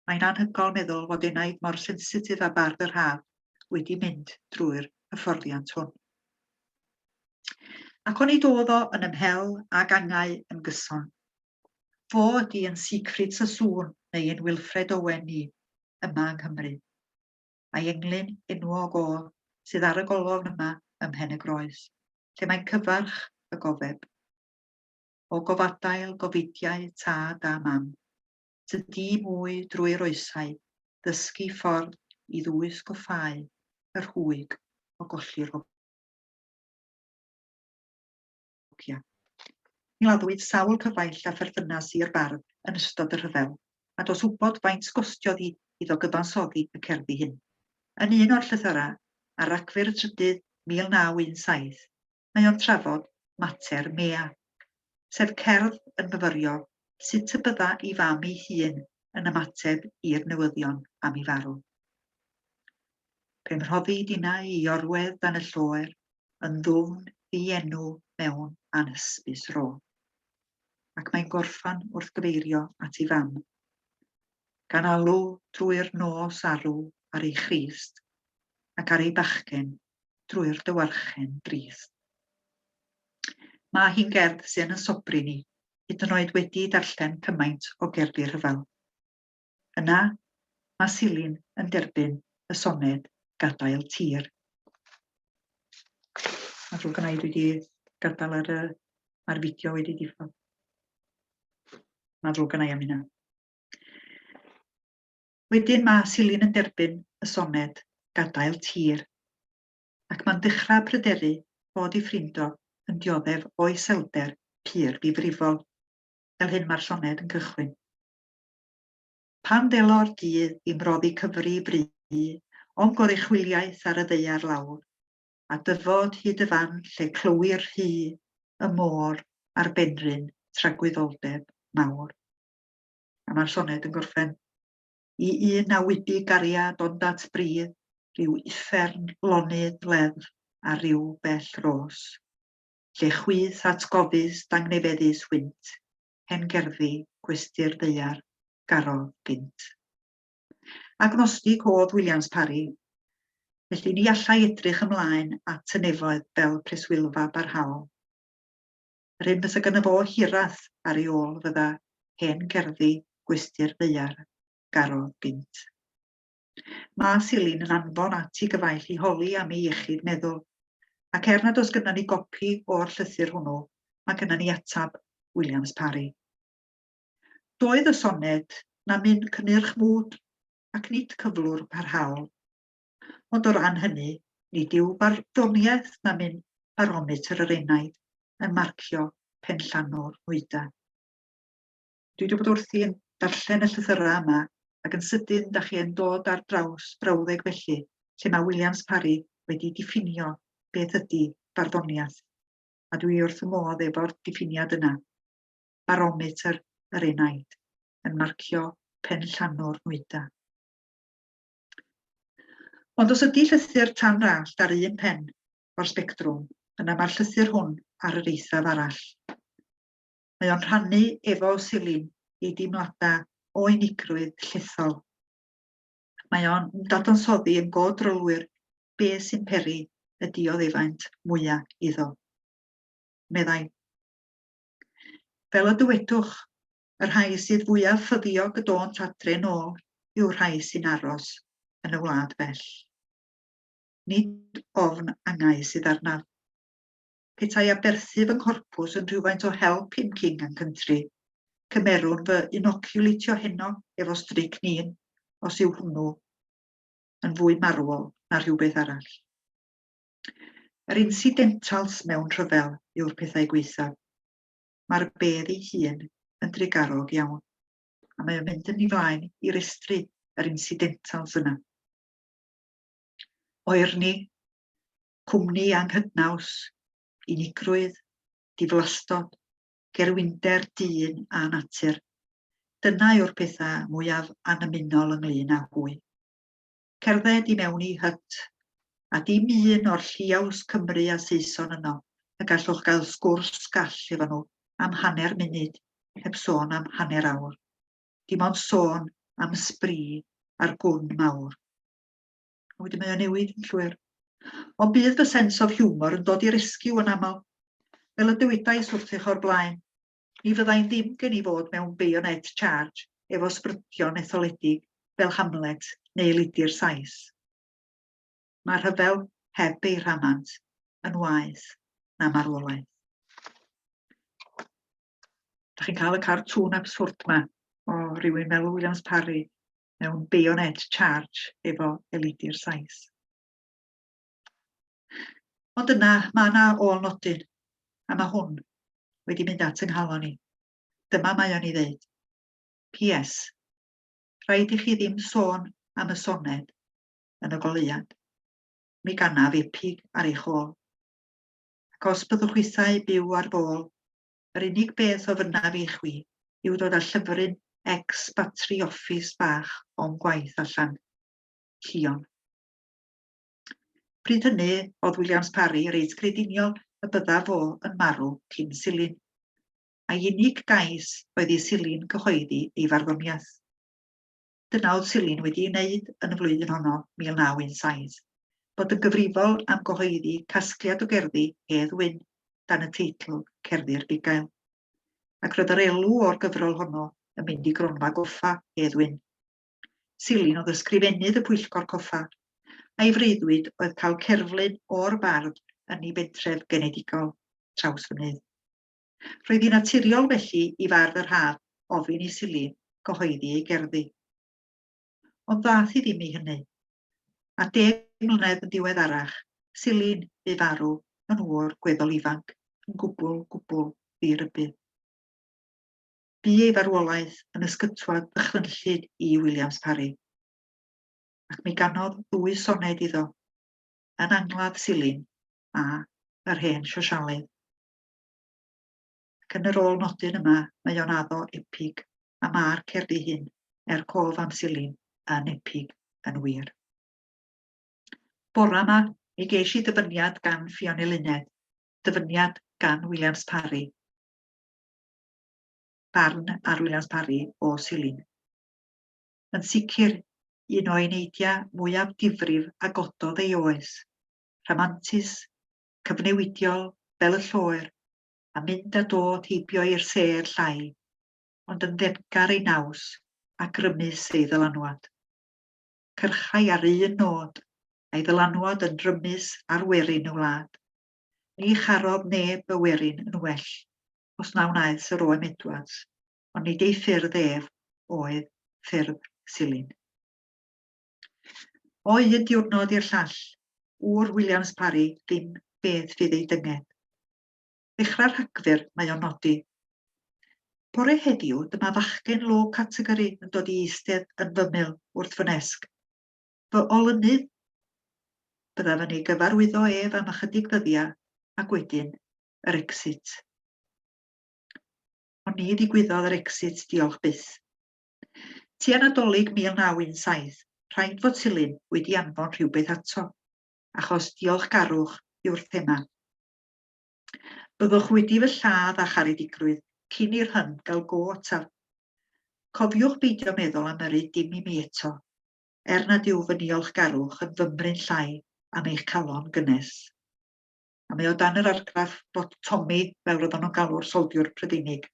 S1: Mae'n anhygoel meddwl fod enaid mor sensitif a bardd yr haf wedi mynd drwy'r hyfforddiant hwn. Ac o'n i dodd o yn ymhel ag angau yn gyson. Fo ydi yn Siegfried Sassoon neu yn Wilfred Owen ni, yma yng Nghymru. Mae englyn enwog ôl sydd ar y golofn yma ym Mhen y Groes, lle mae cyfarch y gofeb. O gofadail, gofidiau, tad a mam, tydi mwy drwy'r oesau, ddysgu ffordd i ddwys goffau y rhwyg o golli'r Llywodriniaeth Ewropeaidd. Gladdwyd sawl cyfaill â pherthynas i'r bardd yn ystod y rhyfel, a does wybod faint gostiodd i iddo gyfansoddi y cerddi hyn. Yn un o'r llythyrau, ar Ragfyr y Trydydd 1917, mae o'n trafod mater Mea, sef cerdd yn myfyrio sut y bydda ei fam ei hun yn ymateb i'r newyddion am ei farw. Pe mhroddi dinau i orwedd dan y lloer, yn ddwfn ddienw mewn anhysbys ro. Ac mae'n gorffan wrth gyfeirio at ei fam. Gan alw drwy'r nos arw ar ei Christ, ac ar ei bachgen drwy'r dywarchen drist. Mae hi'n gerdd sy'n yn sobri ni, hyd yn oed wedi darllen cymaint o gerddi rhyfel. Yna, mae Silin yn derbyn y soned 'Gadael Tir'. Mae'n ddrwg gynna i, dwi wedi gadael ar y... mae'r fideo wedi diffodd. Mae'n ddrwg gynna i am hynna. Wedyn mae Silin yn derbyn y soned 'Gadael Tir' ac mae'n dechrau pryderu bod ei ffrind o yn dioddef o iselder pur ddifrifol, fel hyn mae'r soned yn cychwyn. Pan ddelo'r dydd i mroddi cyfri bru o'n goruchwyliaeth ar y ddaear lawr, a dyfod hyd y fan lle clywir rhu y môr a'r benrhyn tragwyddoldeb mawr. A mae'r soned yn gorffen. I un na wybu gariad onddat bridd, rhyw uffern lonydd leddf ar ryw bell ros, lle chwith atgofus dangnefeddus hwynt, Hen Gerddi, Gwesty'r Ddaear, Garol Gynt. Agnostig oedd Williams Parry, felly ni allai edrych ymlaen at y nefoedd fel preswylfa barhaol. Yr hyn fysa gyda fo hiraeth ar ei ôl fydda Hen Gerddi, Gwesty'r Ddaear, Garol Gynt. Mae Silin yn anfon at i gyfaill i holi am ei iechyd meddwl, ac er nad oes gynnon ni gopi o'r llythyr hwnnw, mae gynnon ni ateb Williams Parry. Doedd y soned na myn cynnyrch mwd ac nid cyflwr parhaol. Ond o ran hynny, nid yw barddoniaeth na myn barometr yr enaid yn marcio penllanw'r nwyda. Dwi 'di bod wrthi yn darllen y llythyrau yma ac yn sydyn da chi yn dod ar draws brawddeg felly lle mae Williams Parry wedi diffinio beth ydy barddoniaeth, a dwi wrth fy modd efo'r diffiniad yna. Barometr yr enaid, yn marcio penllanw'r nwyda. Ond os ydy llythyr tan rallt ar un pen o'r sbectrwm, yna mae'r llythyr hwn ar yr eithaf arall. Mae o'n rhannu efo Silin ei deimladau o unigrwydd llethol. Mae o'n dadansoddi yn go drylwyr be sy'n peri y dioddefaint mwya iddo. Meddai, Fel y dywedwch, y rhai sydd fwyaf ffyddiog y dônt adre'n ôl yw'r rhai sy'n aros yn y wlad bell. Nid ofn angau sydd arnaf. petai aberthu fy nghorpws yn rhywfaint o help i'm King and Country, cymerwn fy inoculateio heno efo strychnine os yw hwnnw yn fwy marwol na rhywbeth arall. Yr incidentals mewn rhyfel yw'r pethau gwaethaf. Mae'r bedd ei hun yn drugarog iawn, a mae o'n mynd yn ei flaen i restru yr incidentals yna. Oerni, cwmni anghydnaws, unigrwydd, diflastod, gerwinder dyn a natur. Dyna yw'r pethau mwyaf annymunol ynglyn â hwy. Cerdded i mewn i hyt, a dim un o'r lliaws Cymry a Saeson yno, y gallwch gael sgwrs gall efo nhw am hanner munud, heb sôn am hanner awr. Dim ond sôn am sbri a'r gwn mawr. A wedyn mae o'n newid yn llwyr. O bydd fy sens of humor yn dod i rescue yn aml. Fel y dywedais wrthych o'r blaen, ni fyddai'n ddim gen i fod mewn bayonet charge efo sbrydion etholedig fel Hamlet neu Lidi'r Sais. Mae rhyfel heb ei rhamant yn waeth na marwolaeth. Da chi'n cael y cartŵn absurd ma o rywun fel Williams Parry mewn bayonet charge efo elidi'r Sais. Ond yna, mae yna ôl nodyn, a mae hwn wedi mynd at yng nghalon i. Dyma mae o'n i ddeud. PS. Rhaid i chi ddim sôn am y soned yn y goleuad. Mi ganaf epig ar eich ôl. Ac os byddwch isau byw ar fôl, yr unig beth ofynnaf i chwi yw dod â llyfryn ex batri office bach o'm gwaith allan. Llion. Pryd hynny, oedd Williams Parry reit grediniol y bydda fo yn marw cyn Silin. A'i unig gais oedd i Silin gyhoeddi ei farddoniaeth. Dyna oedd Silin wedi ei wneud yn y flwyddyn honno, 1917, bod yn gyfrifol am gyhoeddi casgliad o gerddi Hedd Wyn dan y teitl Cerddi'r Bugail. Ac roedd yr elw o'r gyfrol honno yn mynd i gronfa goffa Hedd Wyn. Silin oedd ysgrifennydd y pwyllgor coffa, a'i freuddwyd oedd cael cerflun o'r bardd yn ei bentref genedigol, Trawsfynydd. Roedd hi'n naturiol felly i fardd yr haf ofyn i Silly gyhoeddi ei gerddi. Ond ddaeth hi ddim i hynny. A deg mlynedd yn diweddarach, Silly'n bu farw yn ŵr gweddol ifanc, yn gwbl, gwbl ddi-rybudd. Bu ei farwolaeth yn ysgytwad ddychrynllyd i Williams Parry, ac mi ganodd ddwy soned iddo, yn angladd Silyn a Yr Hen Siosialydd. Ac yn yr ôl nodyn yma, mae o'n addo epig, a ma'r cerddi hyn, er cof am silin, yn epig yn wir. Bora yma, mi geis i ddyfyniad gan Ffion Eluned, dyfyniad gan Williams Parry, barn ar Williams Parry o silin. Yn sicr, un o eneidiau mwyaf difrif a gododd ei oes, rhamantus, cyfnewidiol fel y lloer a mynd a dod heibio i'r sêr llai, ond yn ddefgar ei naws a grymus ei ddylanwad. Cyrchai ar un nôd, a'i ddylanwad yn rymus ar werin y wlad. Ni charodd neb y werin yn well, os na wnaeth Sir Oem Edwards, ond nid ei ffyrdd ef oedd ffyrdd Silyn. O un diwrnod i'r llall, ŵyr Williams Parry ddim beth fydd ei dynged. Ddechrau Rhagfyr, mae o'n nodi. Bore heddiw, dyma fachgen low category yn dod i eistedd yn fymyl wrth fy nesg. Fy olynydd, byddaf yn ei gyfarwyddo ef am ychydig ddyddiau, ac wedyn, yr exit. Ond ni ddigwyddodd yr exit, diolch byth. Tua Nadolig 1917, rhaid fod Silyn wedi anfon rhywbeth ato, achos diolchgarwch yw'r thema. Byddwch wedi fy lladd a charedigrwydd cyn i'r hyn gael go ataf. Cofiwch beidio meddwl am yrru dim i mi eto, er nad yw fy niolchgarwch yn fymryn llai am eich calon gynnes. A mae o dan yr argraff bod Tommy, fel roedden nhw'n galw'r soldiwr Prydeinig.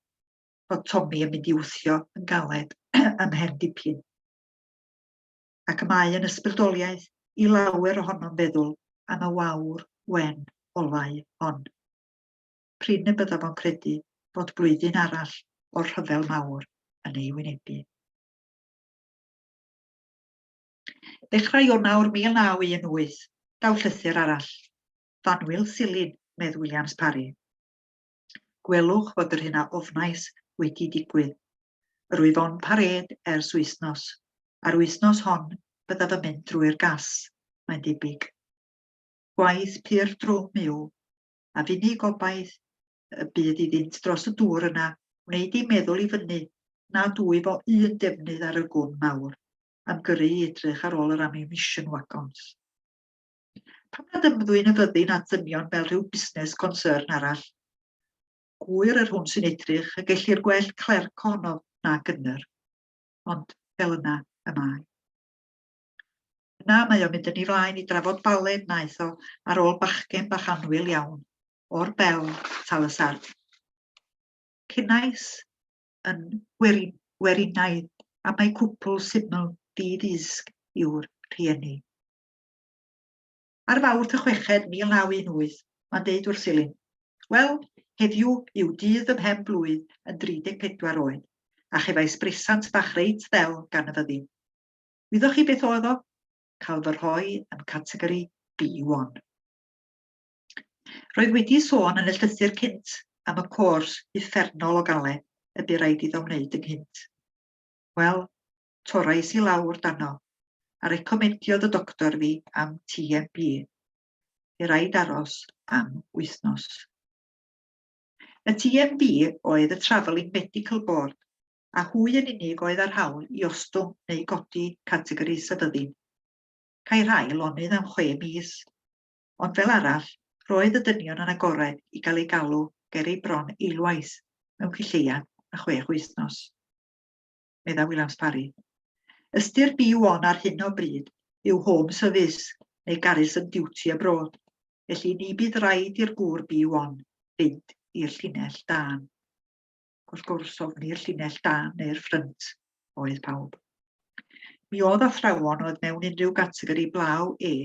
S1: fod Tommy yn mynd i wthio yn galed ym mhen dipyn. Ac y mae yn ysbrydoliaeth i lawer ohonom feddwl am y wawr wen olau hon. Prin y byddaf o'n credu bod blwyddyn arall o'r rhyfel mawr yn ei wynebu. Dechrau Ionawr 1918, daw llythyr arall. Fanwyl Silin, medd Williams Parry. Gwelwch fod yr hyn a ofnais wedi digwydd. Yr wyf on parêd ers wythnos. A'r wythnos hon byddaf yn mynd drwy'r gas, mae'n debyg. Gwaith pur drwm yw, a fy unig gobaith y bydd iddynt dros y dŵr yna wneud i meddwl i fyny nad wyf o un defnydd ar y gwn mawr am gyrru i edrych ar ôl yr ammunition wagons. Pam nad ymddwyn y fyddin at ddynion fel rhyw busnes concern arall? Gŵyr yr hwn sy'n edrych y gellir gwell clerc ohono na gynnyr. Ond fel yna y mae. Yna mae o'n mynd yn ei flaen i drafod balen wnaeth o ar ôl bachgen bach anwyl iawn, o'r bel tal y sarf. Cynais yn weri, werinaidd am ei cwpl syml ddydd isg yw'r rhieni. Ar Fawrth y chweched 1918, mae'n deud wrth Silyn, Wel, heddiw yw dydd fy mhen-blwydd yn 34 oed, a chefais brisant bach reit ddel gan y fyddin. Wyddoch chi beth oedd o? Cael fy rhoi yn categori B1. Roedd wedi sôn yn y llythyr cynt am y cors uffernol o gale y bu raid iddo wneud ynghynt. Wel, torrais i lawr dano, a recomendiodd y doctor fi am TMB. Fe raid aros am wythnos. Y TMB oedd y Travelling Medical Board, a hwy yn unig oedd ar hawl i ostwng neu godi categori sefyddu'n. Cae rhai lonydd am chwe mis, ond fel arall, roedd y dynion yn agored i gael ei galw ger ei bron eilwaith mewn cylleuan a chwech wythnos. meddai Williams-Parry. Ystyr byw on ar hyn o bryd yw home service neu garrison duty abroad, felly ni bydd rhaid i'r gŵr byw on fynd i'r llinell dan. Wrth gwrs, ofni'r llinell dan neu'r ffrynt oedd pawb. Mi oedd athrawon oedd mewn unrhyw gategori blaw E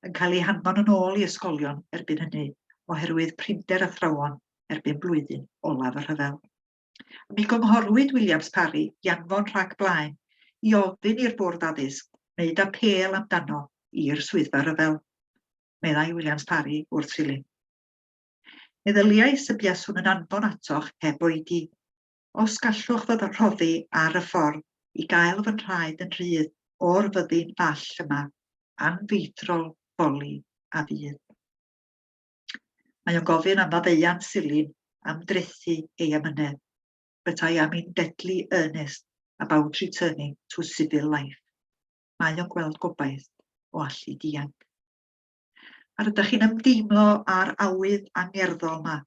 S1: yn cael eu hanfon yn ôl i ysgolion erbyn hynny, oherwydd prinder athrawon erbyn blwyddyn olaf y rhyfel. Mi gynghorwyd Williams Parry i anfon rhag blaen i ofyn i'r Bwrdd Addysg wneud apêl amdano i'r Swyddfa Rhyfel, meddai Williams Parry wrth Silyn. Meddyliais y buaswn yn anfon atoch heb oedi, os gallwch fy rhoddi ar y ffordd i gael fy nhraed yn rhydd o'r fyddin fall yma, anfeidrol, boli a fydd. Mae o'n gofyn am faddeuant silyn am drethu ei amynedd, but I am in deadly earnest about returning to civil life. Mae o'n gweld gobaith o allu dianc. A rydych chi'n ymdeimlo ar awydd angerddol yma,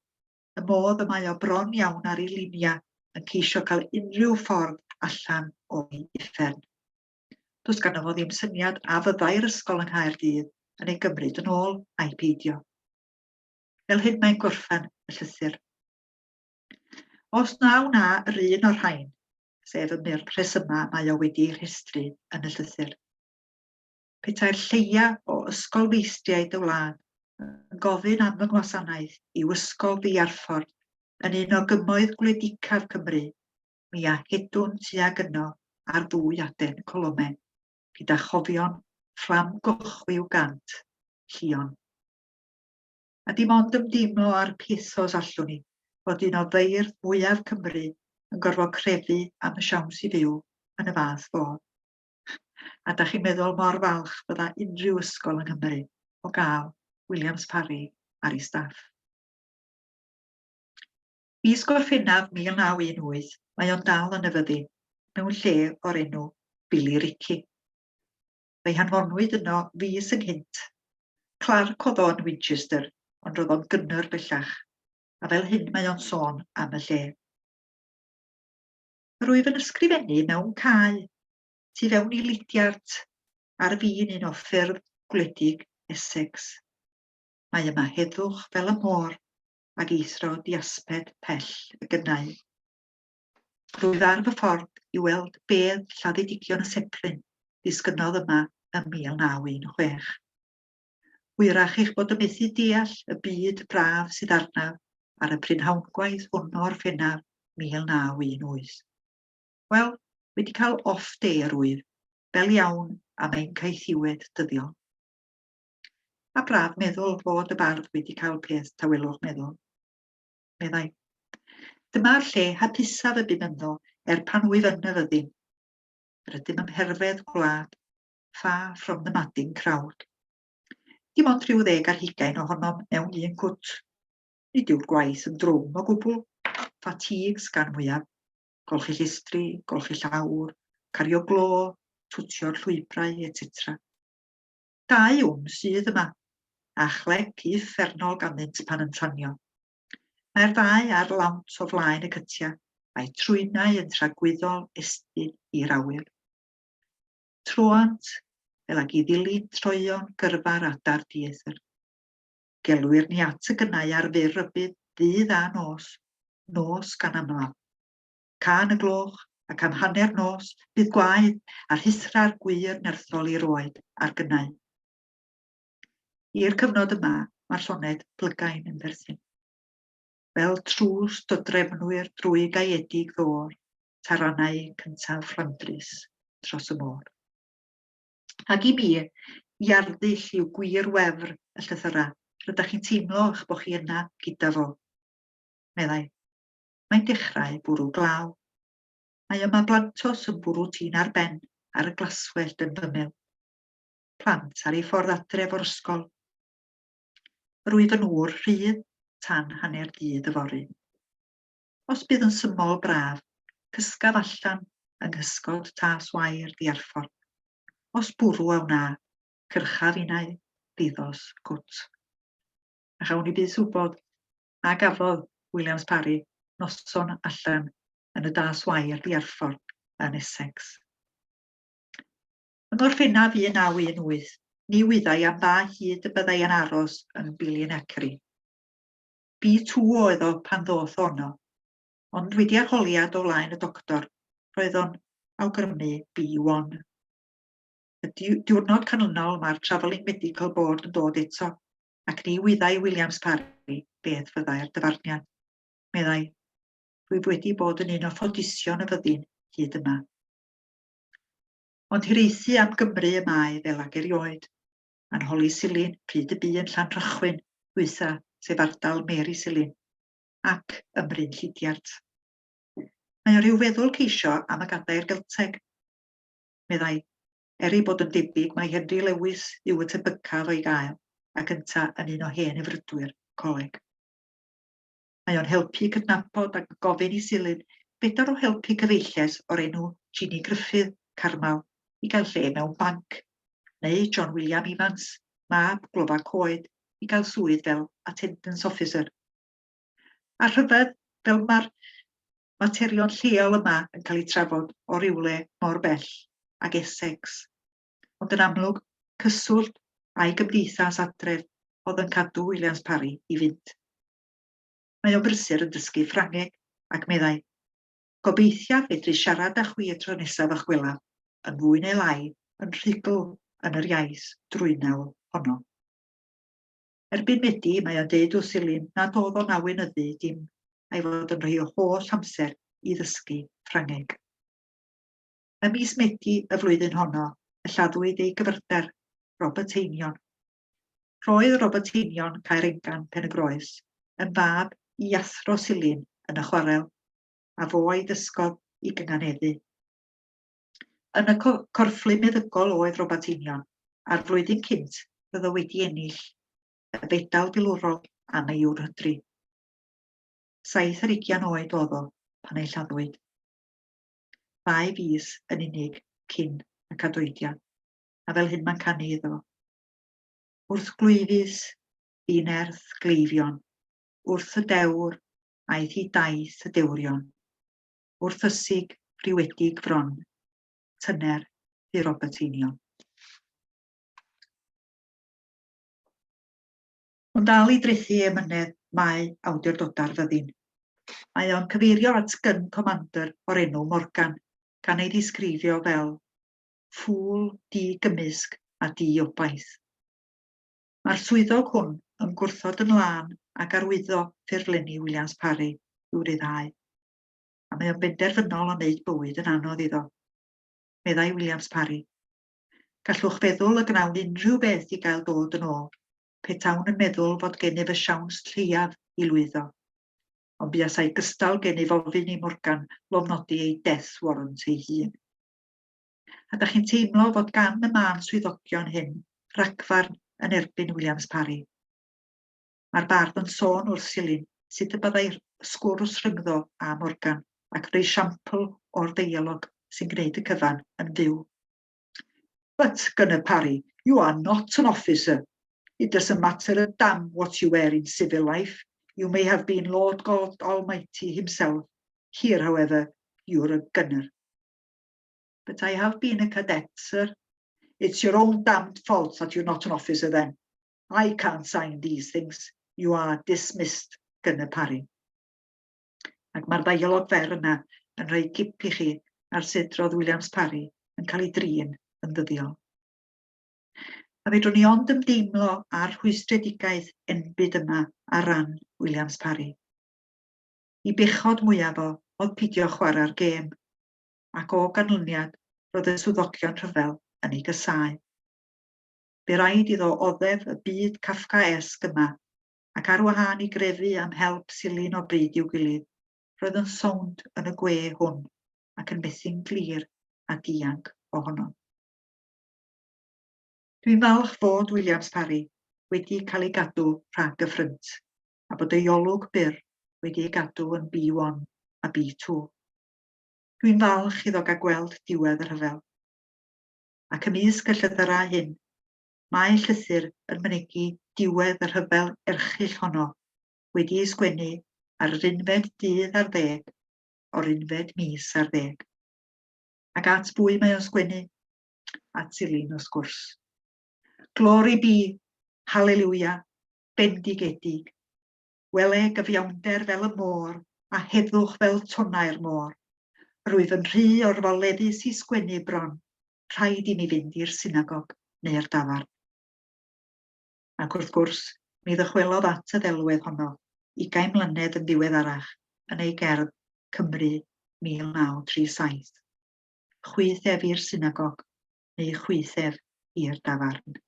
S1: y modd y mae o bron iawn ar ei liniau yn ceisio cael unrhyw ffordd allan o'i uffern. Does ganddo fo ddim syniad a fyddai'r ysgol yng Nghaerdydd yn ei gymryd yn ôl, ai peidio. Fel hyn mae'n gorffen y llythyr. Os na wna yr un o'r rhain, sef y myrdd rhesymau mae o wedi ei rhestru yn y llythyr. Petai'r lleia o ysgol feistriaid y wlad yn gofyn am fy ngwasanaeth i'w ysgol ddiarffordd yn un o gymoedd gwledicaf Cymru, mi a hedwn tuag yno ar ddwy aden Colome, gyda chofion fflam gochwiw gant, llion. A dim ond ymdeimlo ar pethos allwn i fod un o feirdd mwyaf Cymru yn gorfod crefu am y siawns i fyw yn y fath fodd. A da chi'n meddwl mor falch bydda unrhyw ysgol yng Nghymru o gael Williams Parry ar ei staff. Fis Gorffennaf 1918, mae o'n dal yn y fyddin, mewn lle o'r enw Billy Ricky. Fe'i hanfonwyd yno fis ynghynt. Clark oedd o yn Winchester, ond roedd o'n gynnar bellach, a fel hyn mae o'n sôn am y lle. Yr wyf yn ysgrifennu mewn cae, tu fewn i lidiart, ar fin un o ffyrdd gwledig Essex. Mae yma heddwch fel y môr, ag eithro diasbed pell y gynnau. Rwyf ar fy ffordd i weld bedd lladdedigion y Sepryn ddisgynnodd yma ym 1916. Hwyrach eich bod yn methu deall y byd braf sydd arnaf ar y prynhawngwaith hwn o'r Orffennaf 1918. Wel, wedi cael off day yr wyf, fel iawn am ein caethiwed dyddiol. A braf meddwl fod y bardd wedi cael peth tawelwch meddwl. Meddai. Dyma'r lle hapusaf y bum ynddo er pan wyf yn y fyddin. Rydym ym mherfedd gwlad, far from the madding crowd. Dim ond rhyw ddeg ar hugain ohonom mewn un cwt. Nid yw'r gwaith yn drwm o gwbl, fatigues gan mwyaf. Golchi llistri, golchi llawr, cario glo, twtio'r llwybrau, etc. Dau wn sydd yma, a chlec uffernol ganddynt pan yn tanio. Mae'r ddau ar lawnt o flaen y cytia, a'i trwynau yn tragwyddol estyn i'r awyr. Troant, fel ag i ddilyn troeon gyrfa'r adar dieithr. Gelwir ni at y gynnau ar fyr rybudd ddydd a nos, nos gan amlaf. Can y gloch, ac am hanner nos, bydd gwaed a rhuthrau'r gwŷr nerthol i'r oed a'r gynnau. I'r cyfnod yma, mae'r lloned plygain yn berthyn. Fel trws dodrefnwyr drwy gaeedig ddôr, taranau cyntaf Fflandrys tros y môr. Ac i mi, i arddull yw gwir wefr y llythyrau, rydych chi'n teimlo eich bod chi yna gyda fo, meddai. mae'n dechrau bwrw glaw. Mae yma blantos yn bwrw tîn ar ben ar y glaswellt yn fymel. Plant ar ei ffordd adref o'r ysgol. Yr wyf yn ŵr rhydd tan hanner dydd yfory. Os bydd yn symol braf, cysgaf allan yng nghysgod tas wair ddiarffordd. Os bwrw a wna, cyrchaf unau ddiddors gwt. A chawn ni byd swbod a gafodd Williams Parry noson allan yn y Das Y ar Bearford yn Essex. Yng Ngorffennaf 1918, ni wyddai am ba hyd y byddai yn aros yn Billion-Ackery. Bi tŵ oedd o pan ddoth ono, ond wedi arholiad o flaen y doctor, roedd o'n awgrymu B1. Y diwrnod canlynol mae'r Travelling Medical Board yn dod eto ac ni wyddai Williams Parry beth fyddai'r dyfarniad. Meddai, Rwyf wedi bod yn un o ffodision y fyddin hyd yma. Ond hiraethu am Gymru y mae fel ag erioed. Mae'n holi Silin pryd y bu yn Llanrhychwyn, hwytha, sef ardal Mary Silin, ac ym Mryn Llidiart. Mae o rhyw feddwl ceisio am y gadair Gelteg. Meddai, Er ei bod yn debyg mai Henry Lewis yw y tebycaf o'i gael, ac ynta yn un o hen efrydwyr coleg. Mae o'n helpu cydnabod ac gofyn i Silyn bedar o helpu cyfeilles o'r enw Jeanie Gruffydd, Carmel, i gael lle mewn banc, neu John William Evans, mab glofa coed, i gael swydd fel attendance officer. A rhyfedd, fel mae'r materion lleol yma yn cael eu trafod o rywle mor bell ag Essex. Ond yn amlwg, cyswllt a'i gymdeithas adref oedd yn cadw Williams Parry i fynd. Mae o'n brysur yn dysgu Ffrangeg, ac meddai, Gobeithiaf fedru siarad â chwi y tro nesaf ych gwelaf, yn fwy neu lai yn rhugl yn yr iaith drwynol honno. Erbyn Medi, mae o'n deud wrth Silin nad o'dd o'n awynyddu dim a'i fod yn rhoi o holl amser i ddysgu Ffrangeg. Ym mis Medi y flwyddyn honno y lladdwyd ei gyfrder, Robert Einion. Roedd Robert Einion, Caerengan, Pen-y-groes, yn fab i athro Silin yn y chwarel, a fo a'i ddysgodd i gynganeddu. Yn y corfflu meddygol oedd Robat Einion, a'r flwyddyn cynt byddo wedi ennill y fedal filwrol am ei ŵr hydri. Saith ar ugian oed oedd o pan ei lladdwyd. Mae fis yn unig cyn y cadoediad, a fel hyn mae'n canu iddo. Wrth glwyfus, fi nerth gleifion, wrth y dewr, aeth i daith y dewrion. wrth ysig friwedig fron, tyner fu Robert Einion. Ond dal i drethu emynedd mae awdurdodau'r fyddin. Mae o'n cyfeirio at gyn comandr o'r enw Morgan, gan ei ddisgrifio fel ffŵl di-gymysg a di-obaith. Mae'r swyddog hwn yn gwrthod yn lân ag arwyddo ffurflenni Williams Parry i'w ryddhau. a mae o'n benderfynol o wneud bywyd yn anodd iddo, meddai Williams Parry. Gallwch feddwl y gnawn unrhyw beth i gael dod yn ôl, petawn yn meddwl fod gennyf y siawns lleiaf i lwyddo. Ond buasai gystal gennyf ofyn i Morgan lofnodi ei death warrant ei hun. A da chi'n teimlo fod gan y mân swyddogion hyn ragfarn yn erbyn Williams Parry? Mae'r bardd yn sôn wrth Silyn sut y byddai sgwrs rhyngddo a Morgan ac yr esiampl o'r ddeialog sy'n gwneud y cyfan yn fyw. But, Gunner Parry, you are not an officer. It doesn't matter a damn what you were in civil life. You may have been Lord God Almighty himself. Here, however, you're a gunner. But I have been a cadet, sir. It's your own damned fault that you're not an officer then. I can't sign these things, you are dismissed, gan y pari. Ac mae'r ddaiolog fer yna yn rhoi gip i chi ar sut roedd Williams Parry yn cael ei drin yn ddyddiol. A fedrwn ni ond ymdeimlo ar rhwystredigaeth enbyd yma ar ran Williams Parry. I bechod mwyaf o oedd pidio chwarae'r gêm, ac o ganlyniad roedd y swyddogion rhyfel yn ei gysau. Bu raid iddo oddef y byd Kafkaesg yma, ac ar wahân i grefu am help silyn o bryd i'w gilydd, roedd yn sownd yn y gwe hwn, ac yn methu'n glir a dianc ohono. Dwi'n falch fod Williams Parry wedi cael ei gadw rhag y ffrynt, a bod ei olwg byr wedi ei gadw yn B1 a B2. Dwi'n falch iddo gael gweld diwedd y rhyfel. ac ymysg y llythyrau hyn, mae llythyr yn mynegi diwedd y rhyfel erchyll honno, wedi'i sgwennu ar yr unfed dydd ar ddeg o'r unfed mis ar ddeg. Ac at bwy mae o'n sgwennu? At Silin, wrth gwrs. Glory be! Hallelujah! Bendigedig! Wele gyfiawnder fel y môr, a heddwch fel tonnau'r môr. Rwyf yn rhy orfoleddus i sgwennu bron, rhaid i mi fynd i'r synagog neu'r dafarn. Ac wrth gwrs, mi ddychwelodd at y ddelwedd honno ugain mlynedd yn ddiweddarach yn ei gerdd Cymru 1937. Chwith ef i'r synagog, neu chwith ef i'r dafarn.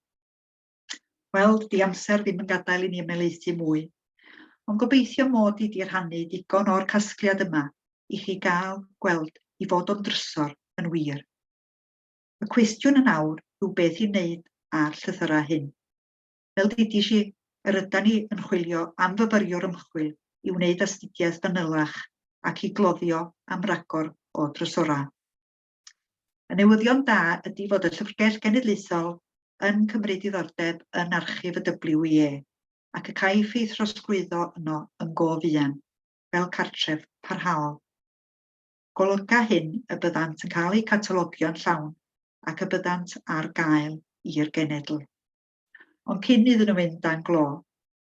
S1: Wel, dydi amser ddim yn gadael i ni ymelaethu mwy, ond gobeithio mod i 'di rhannu digon o'r casgliad yma i chi gael gweld i fod o'n drysor yn wir. Y cwestiwn yn awr yw beth i wneud â'r llythyrau hyn. Fel didis i, yr ydan ni yn chwilio am fyfyriwr ymchwil i wneud astudiaeth fanylach ac i gloddio am ragor o drysorau. Y newyddion da ydi fod y Llyfrgell Genedlaethol yn cymryd diddordeb yn archif y WIE ac y caiff ei throsglwyddo yno yn go fuan, fel cartref parhaol. Golyga hyn y byddant yn cael eu catalogio'n llawn ac y byddant ar gael i'r genedl. Ond cyn iddyn nhw fynd dan glo,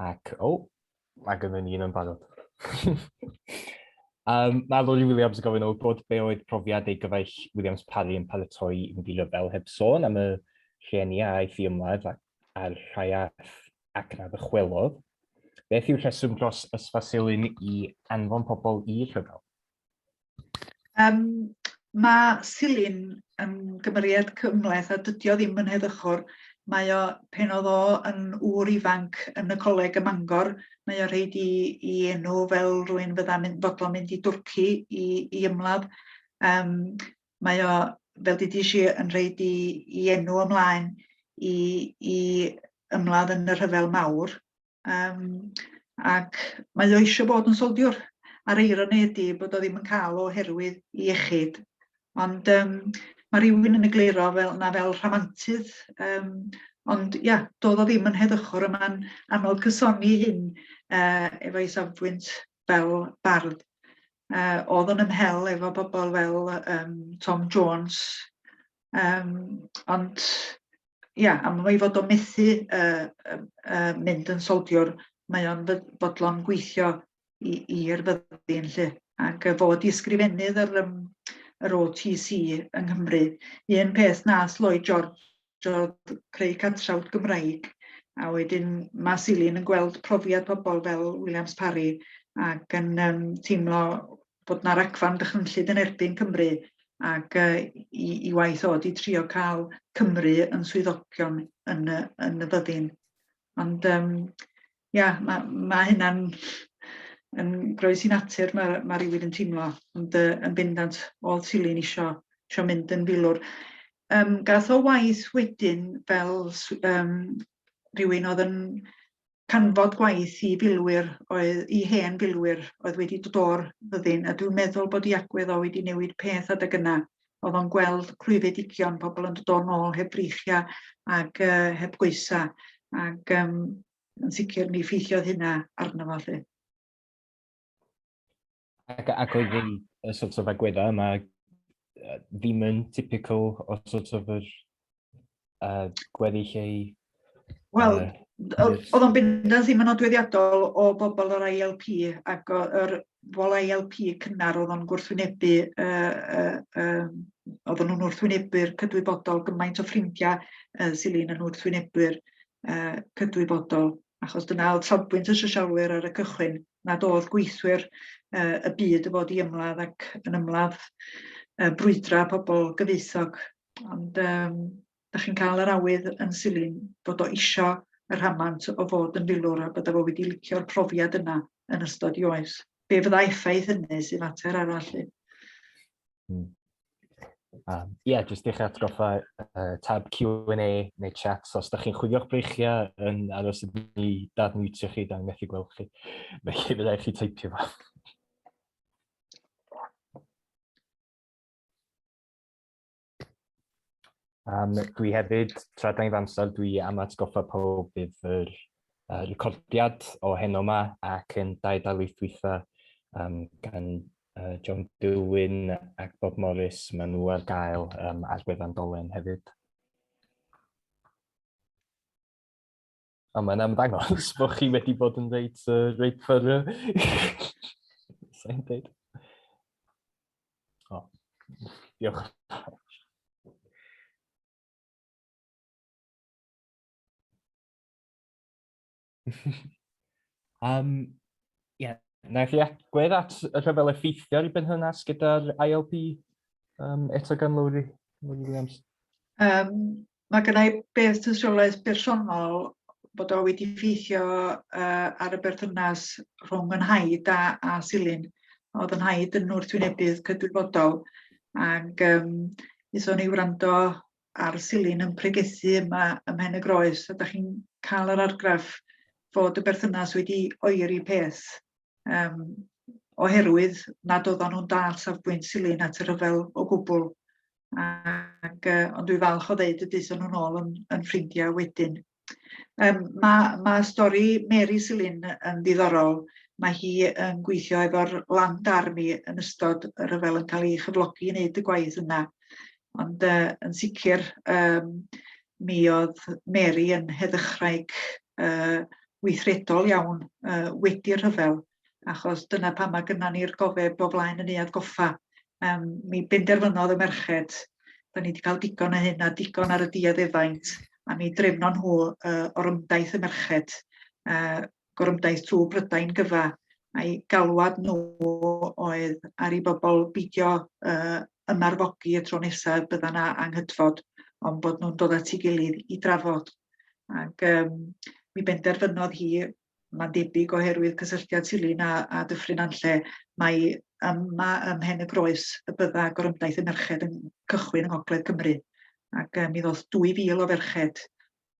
S1: Ac, o, oh, mae gen i un yn barod. um, mae Lori Williams yn gofyn o bod be oedd profiad ei gyfaill Williams Parry yn paratoi i fynd i ryfel heb sôn am y rhieni a aeth i ymladd a'r rhai ath ac na ddychwelodd. Beth yw'r rheswm dros ysfasilyn i anfon pobl i rhyfel? Um, mae Silin yn gymeriad cymleth a dydio ddim yn heddychwr. Mae o, pen oedd o yn ŵr ifanc yn y coleg ym Mangor, mae o rhaid i, i enw fel rwy'n fydda'n mynd, fodlon mynd i Dwrci i, i ymladd. Um, mae o, fel dwi eisiau, yn rhaid i, i enw ymlaen i, i ymladd yn y rhyfel mawr. Yym ac mae o eisiau bod yn soldiwr a'r eironi ydy bod o ddim yn cael oherwydd i iechyd. Ond um, mae rhywun yn egluro fel na fel rhamantydd um, ond ia, doedd o ddim yn heddychwr yma'n anodd cysoni hyn uh, efo ei safbwynt fel bardd. uh, oedd yn ymhel efo bobl fel um, Tom Jones, um, ond ia, am ei fod o methu uh, uh, mynd yn soldiwr, mae o'n bodlon gweithio i'r fyddin lle. Ac uh, fod i ysgrifennydd yr, um, yr OTC yng Nghymru, un peth nath Lloyd George adrodd creu cantrawd Gymraeg a wedyn ma' Silin yn gweld profiad pobl fel Williams Parry ac yn yym teimlo bod 'na ragfarn dychrynllyd yn erbyn Cymru ac yy 'i 'i waith o 'di trio ca'l Cymru yn swyddogion yn y yn y fyddin. Ond yym ia ma' ma' hynna'n yn groes i natur ma' ma' rywun yn teimlo ond yy yn bendant all Tilly'n isio isio mynd yn filwr. Yym gath o waith wedyn fel s- yym rywun oedd yn canfod gwaith i filwyr oedd i hen filwyr oedd wedi dod o'r fyddin a dwi'n meddwl bod 'i agwedd o wedi newid peth adeg yna Oedd o'n gweld clwyfedigion, pobl yn dod o'n ôl heb breichiau ac uh, heb goesa. Ac um, yn sicr mi ffeithiodd hynna arno fo lly. Ac, ac oedd ddim y sort of agweddau yma ddim yn typical o sort of yr Yy, gweddi lle i... Wel, oedd o'n bendant ddim yn odweddiadol o bobl o'r ILP ac o'r bobl ILP cynnar oedd o'n gwrthwynebu, uh, uh, um, oedd nhw'n wrthwynebu'r cydwybodol gymaint o ffrindiau uh, Silin yn wrthwynebu'r uh, cydwybodol, achos dyna oedd safbwynt y sosialwyr ar y cychwyn, nad oedd gweithwyr uh, y byd y fod i ymladd ac yn ymladd uh, brwydra pobl gyfeithog Ond um, da chi'n cael yr awydd yn silyn bod o isio y rhamant o fod yn filwr a bod o wedi licio'r profiad yna yn ystod i oes. Be fydda effaith hynny sy'n fater arall? Ie, hmm. um, yeah, jyst eich atgoffa uh, tab Q&A neu chat, so os da chi'n chwilio'ch breichiau yn aros i ni dadmwtio chi, da ni'n methu gweld chi, felly fydda i chi teipio fo. Um, dwi hefyd, tra da ni'n amser, dwi am atgoffa pob bydd yr uh, recordiad o heno yma ac yn dau dalaeth dwytha um, gan uh, John Dewin ac Bob Morris, maen nhw ar gael um, ar gwefan dolen hefyd. A mae'n amdangos bod chi wedi bod yn reit, uh, reit ffyrra. Sa'n dweud. O, diolch. um, yeah. Na chi agwedd at y rhyfel effeithiol i benhynnas gyda'r ILP um, eto gan Lowri Williams? Um, Mae gynna i beth tystiolaeth bersonol bod o wedi ffeithio uh, ar y berthynas rhwng yn haid a, a Silin. Oedd yn haid yn wrthwynebydd cydwybodol ac um, ithon ni wrando ar Silin yn pregethu yma ym Mhen y Groes a da chi'n cael yr argraff fod y berthynas wedi oeri peth um, oherwydd nad oedden nhw'n dal safbwynt silyn at y rhyfel o gwbl. ac, uh, ond dwi falch o ddeud y dyson nhw'n ôl yn, yn ffrindiau wedyn. Um, mae, ma stori Mary Silin yn ddiddorol. Mae hi yn gweithio efo'r Land Army yn ystod y rhyfel yn cael ei chyflogi i wneud y gwaith yna. Ond uh, yn sicr, um, mi oedd Mary yn heddychwraig uh, weithredol iawn uh, wedi'r rhyfel achos dyna pan mae gynna ni'r gofeb o flaen y neuad goffa. Um, mi benderfynodd y merched, da ni wedi cael digon o hyn a digon ar y diad efaint, a mi drefno nhw uh, o'r ymdaith y merched, uh, gorymdaith trwy Brydain gyfa, a'i galwad nhw oedd ar ei bobl beidio uh, ymarfogi y tro nesaf bydda na anghydfod, ond bod nhw'n dod at ei gilydd i drafod. Ac um, mi benderfynodd hi mae'n debyg oherwydd cysylltiad Silyn â, â Dyffryn Anlle, mai yma ym Mhen y Groes y bydda gorymdaith y merched yn cychwyn yng Ngogledd Cymru, ac uh, mi ddoth 2,000 o ferched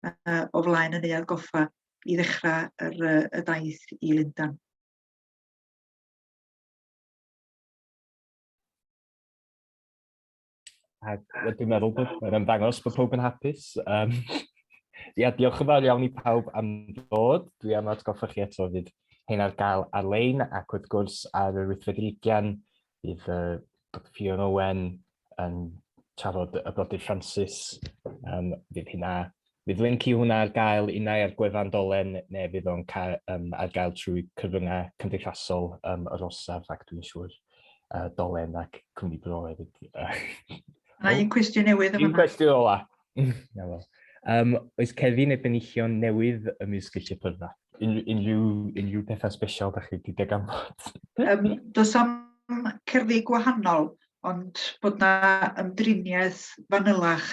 S1: uh, o flaen y neuadd goffa i ddechrau yr, uh, y daith i Lundan. A dwi'n meddwl bod mae'n ymddangos bod pob yn hapus. Um, ia, diolch yn fawr iawn i pawb am ddod. Dwi am atgoffa chi eto fydd hyn ar gael ar-lein ac wrth gwrs ar yr wythfed ugian bydd uh, Dr Fion Owen yn trafod y brodyr Francis. Um, bydd hynna Bydd linc i hwnna ar gael unai ar gwefan Dolen neu fydd o'n cael um, ar gael trwy cyfryngau cymdeithasol um, yr orsaf ac dwi'n siŵr uh, Dolen ac Cwmni Bro hefyd. Mae un cwestiwn newydd yma. Un cwestiwn ola. Na fel. Um, oes cerddi neu benillion newydd ym mys Gilliau Pyrfa? Un, unrhyw, unrhyw pethau special da chi wedi deg am bod? um, does am cerddi gwahanol, ond bod na ymdriniaeth fanylach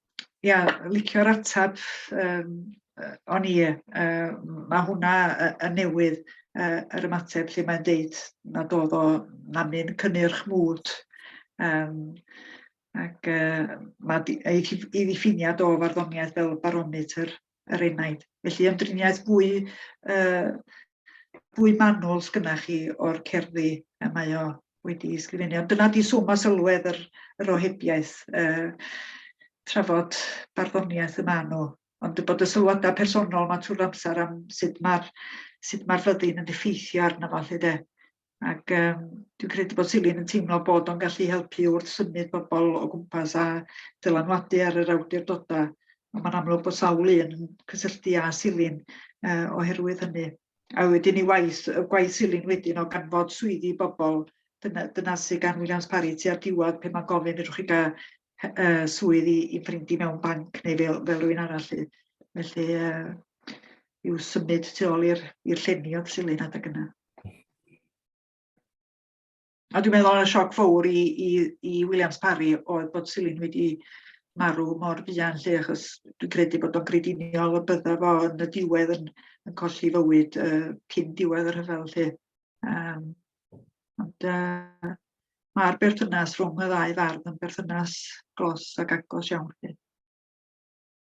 S1: ia licio'r ateb yym yy o'n i yy ma' hwnna y- yn newydd yy yr ymateb lle mae'n deud nad o'dd o na mi'n cynnyrch mwd yym ac yy ma' 'di ei ddi- ei ddiffiniad o farddoniaeth fel barometer er enaid. Felly ymdriniaeth fwy, uh, fwy manwl sgynna chi o'r cerddi y mae o wedi ysgrifennu. Ond dyna di swm a sylwedd yr, yr ohebiaeth, uh, trafod barddoniaeth y maen nhw. Ond bod y sylwadau personol mae trwy'r amser am sut mae'r sut mae'r fyddin yn effeithio arno fo, lle de. Ac um, dwi'n credu bod Silin yn teimlo bod o'n gallu helpu wrth symud pobl o gwmpas a dylanwadu ar yr awdurdodau. Ond mae'n amlwg bod sawl un yn cysylltu â Silin uh, oherwydd hynny. A wedyn i waith, y gwaith Silin wedyn o ganfod swyddi bobl, dyna, dyna sy'n gan Williams Parry tua'r diwedd pe mae'n gofyn ydych chi gael uh, swydd i, i ffrindu mewn banc neu fel, fel rhywun arall. Felly, uh, i'w symud tu ôl i'r llenni oedd Silin adeg yna. A dwi'n meddwl y sioc fawr i i i Williams Parry oedd bod Silyn wedi marw mor fuan 'lly achos dwi'n credu bod o'n grediniol y bydda fo yn y diwedd yn yn colli fywyd yy cyn diwedd y rhyfel 'lly. Yym ond yy ma'r berthynas rhwng y ddau fardd yn berthynas glos ac agos iawn 'lly.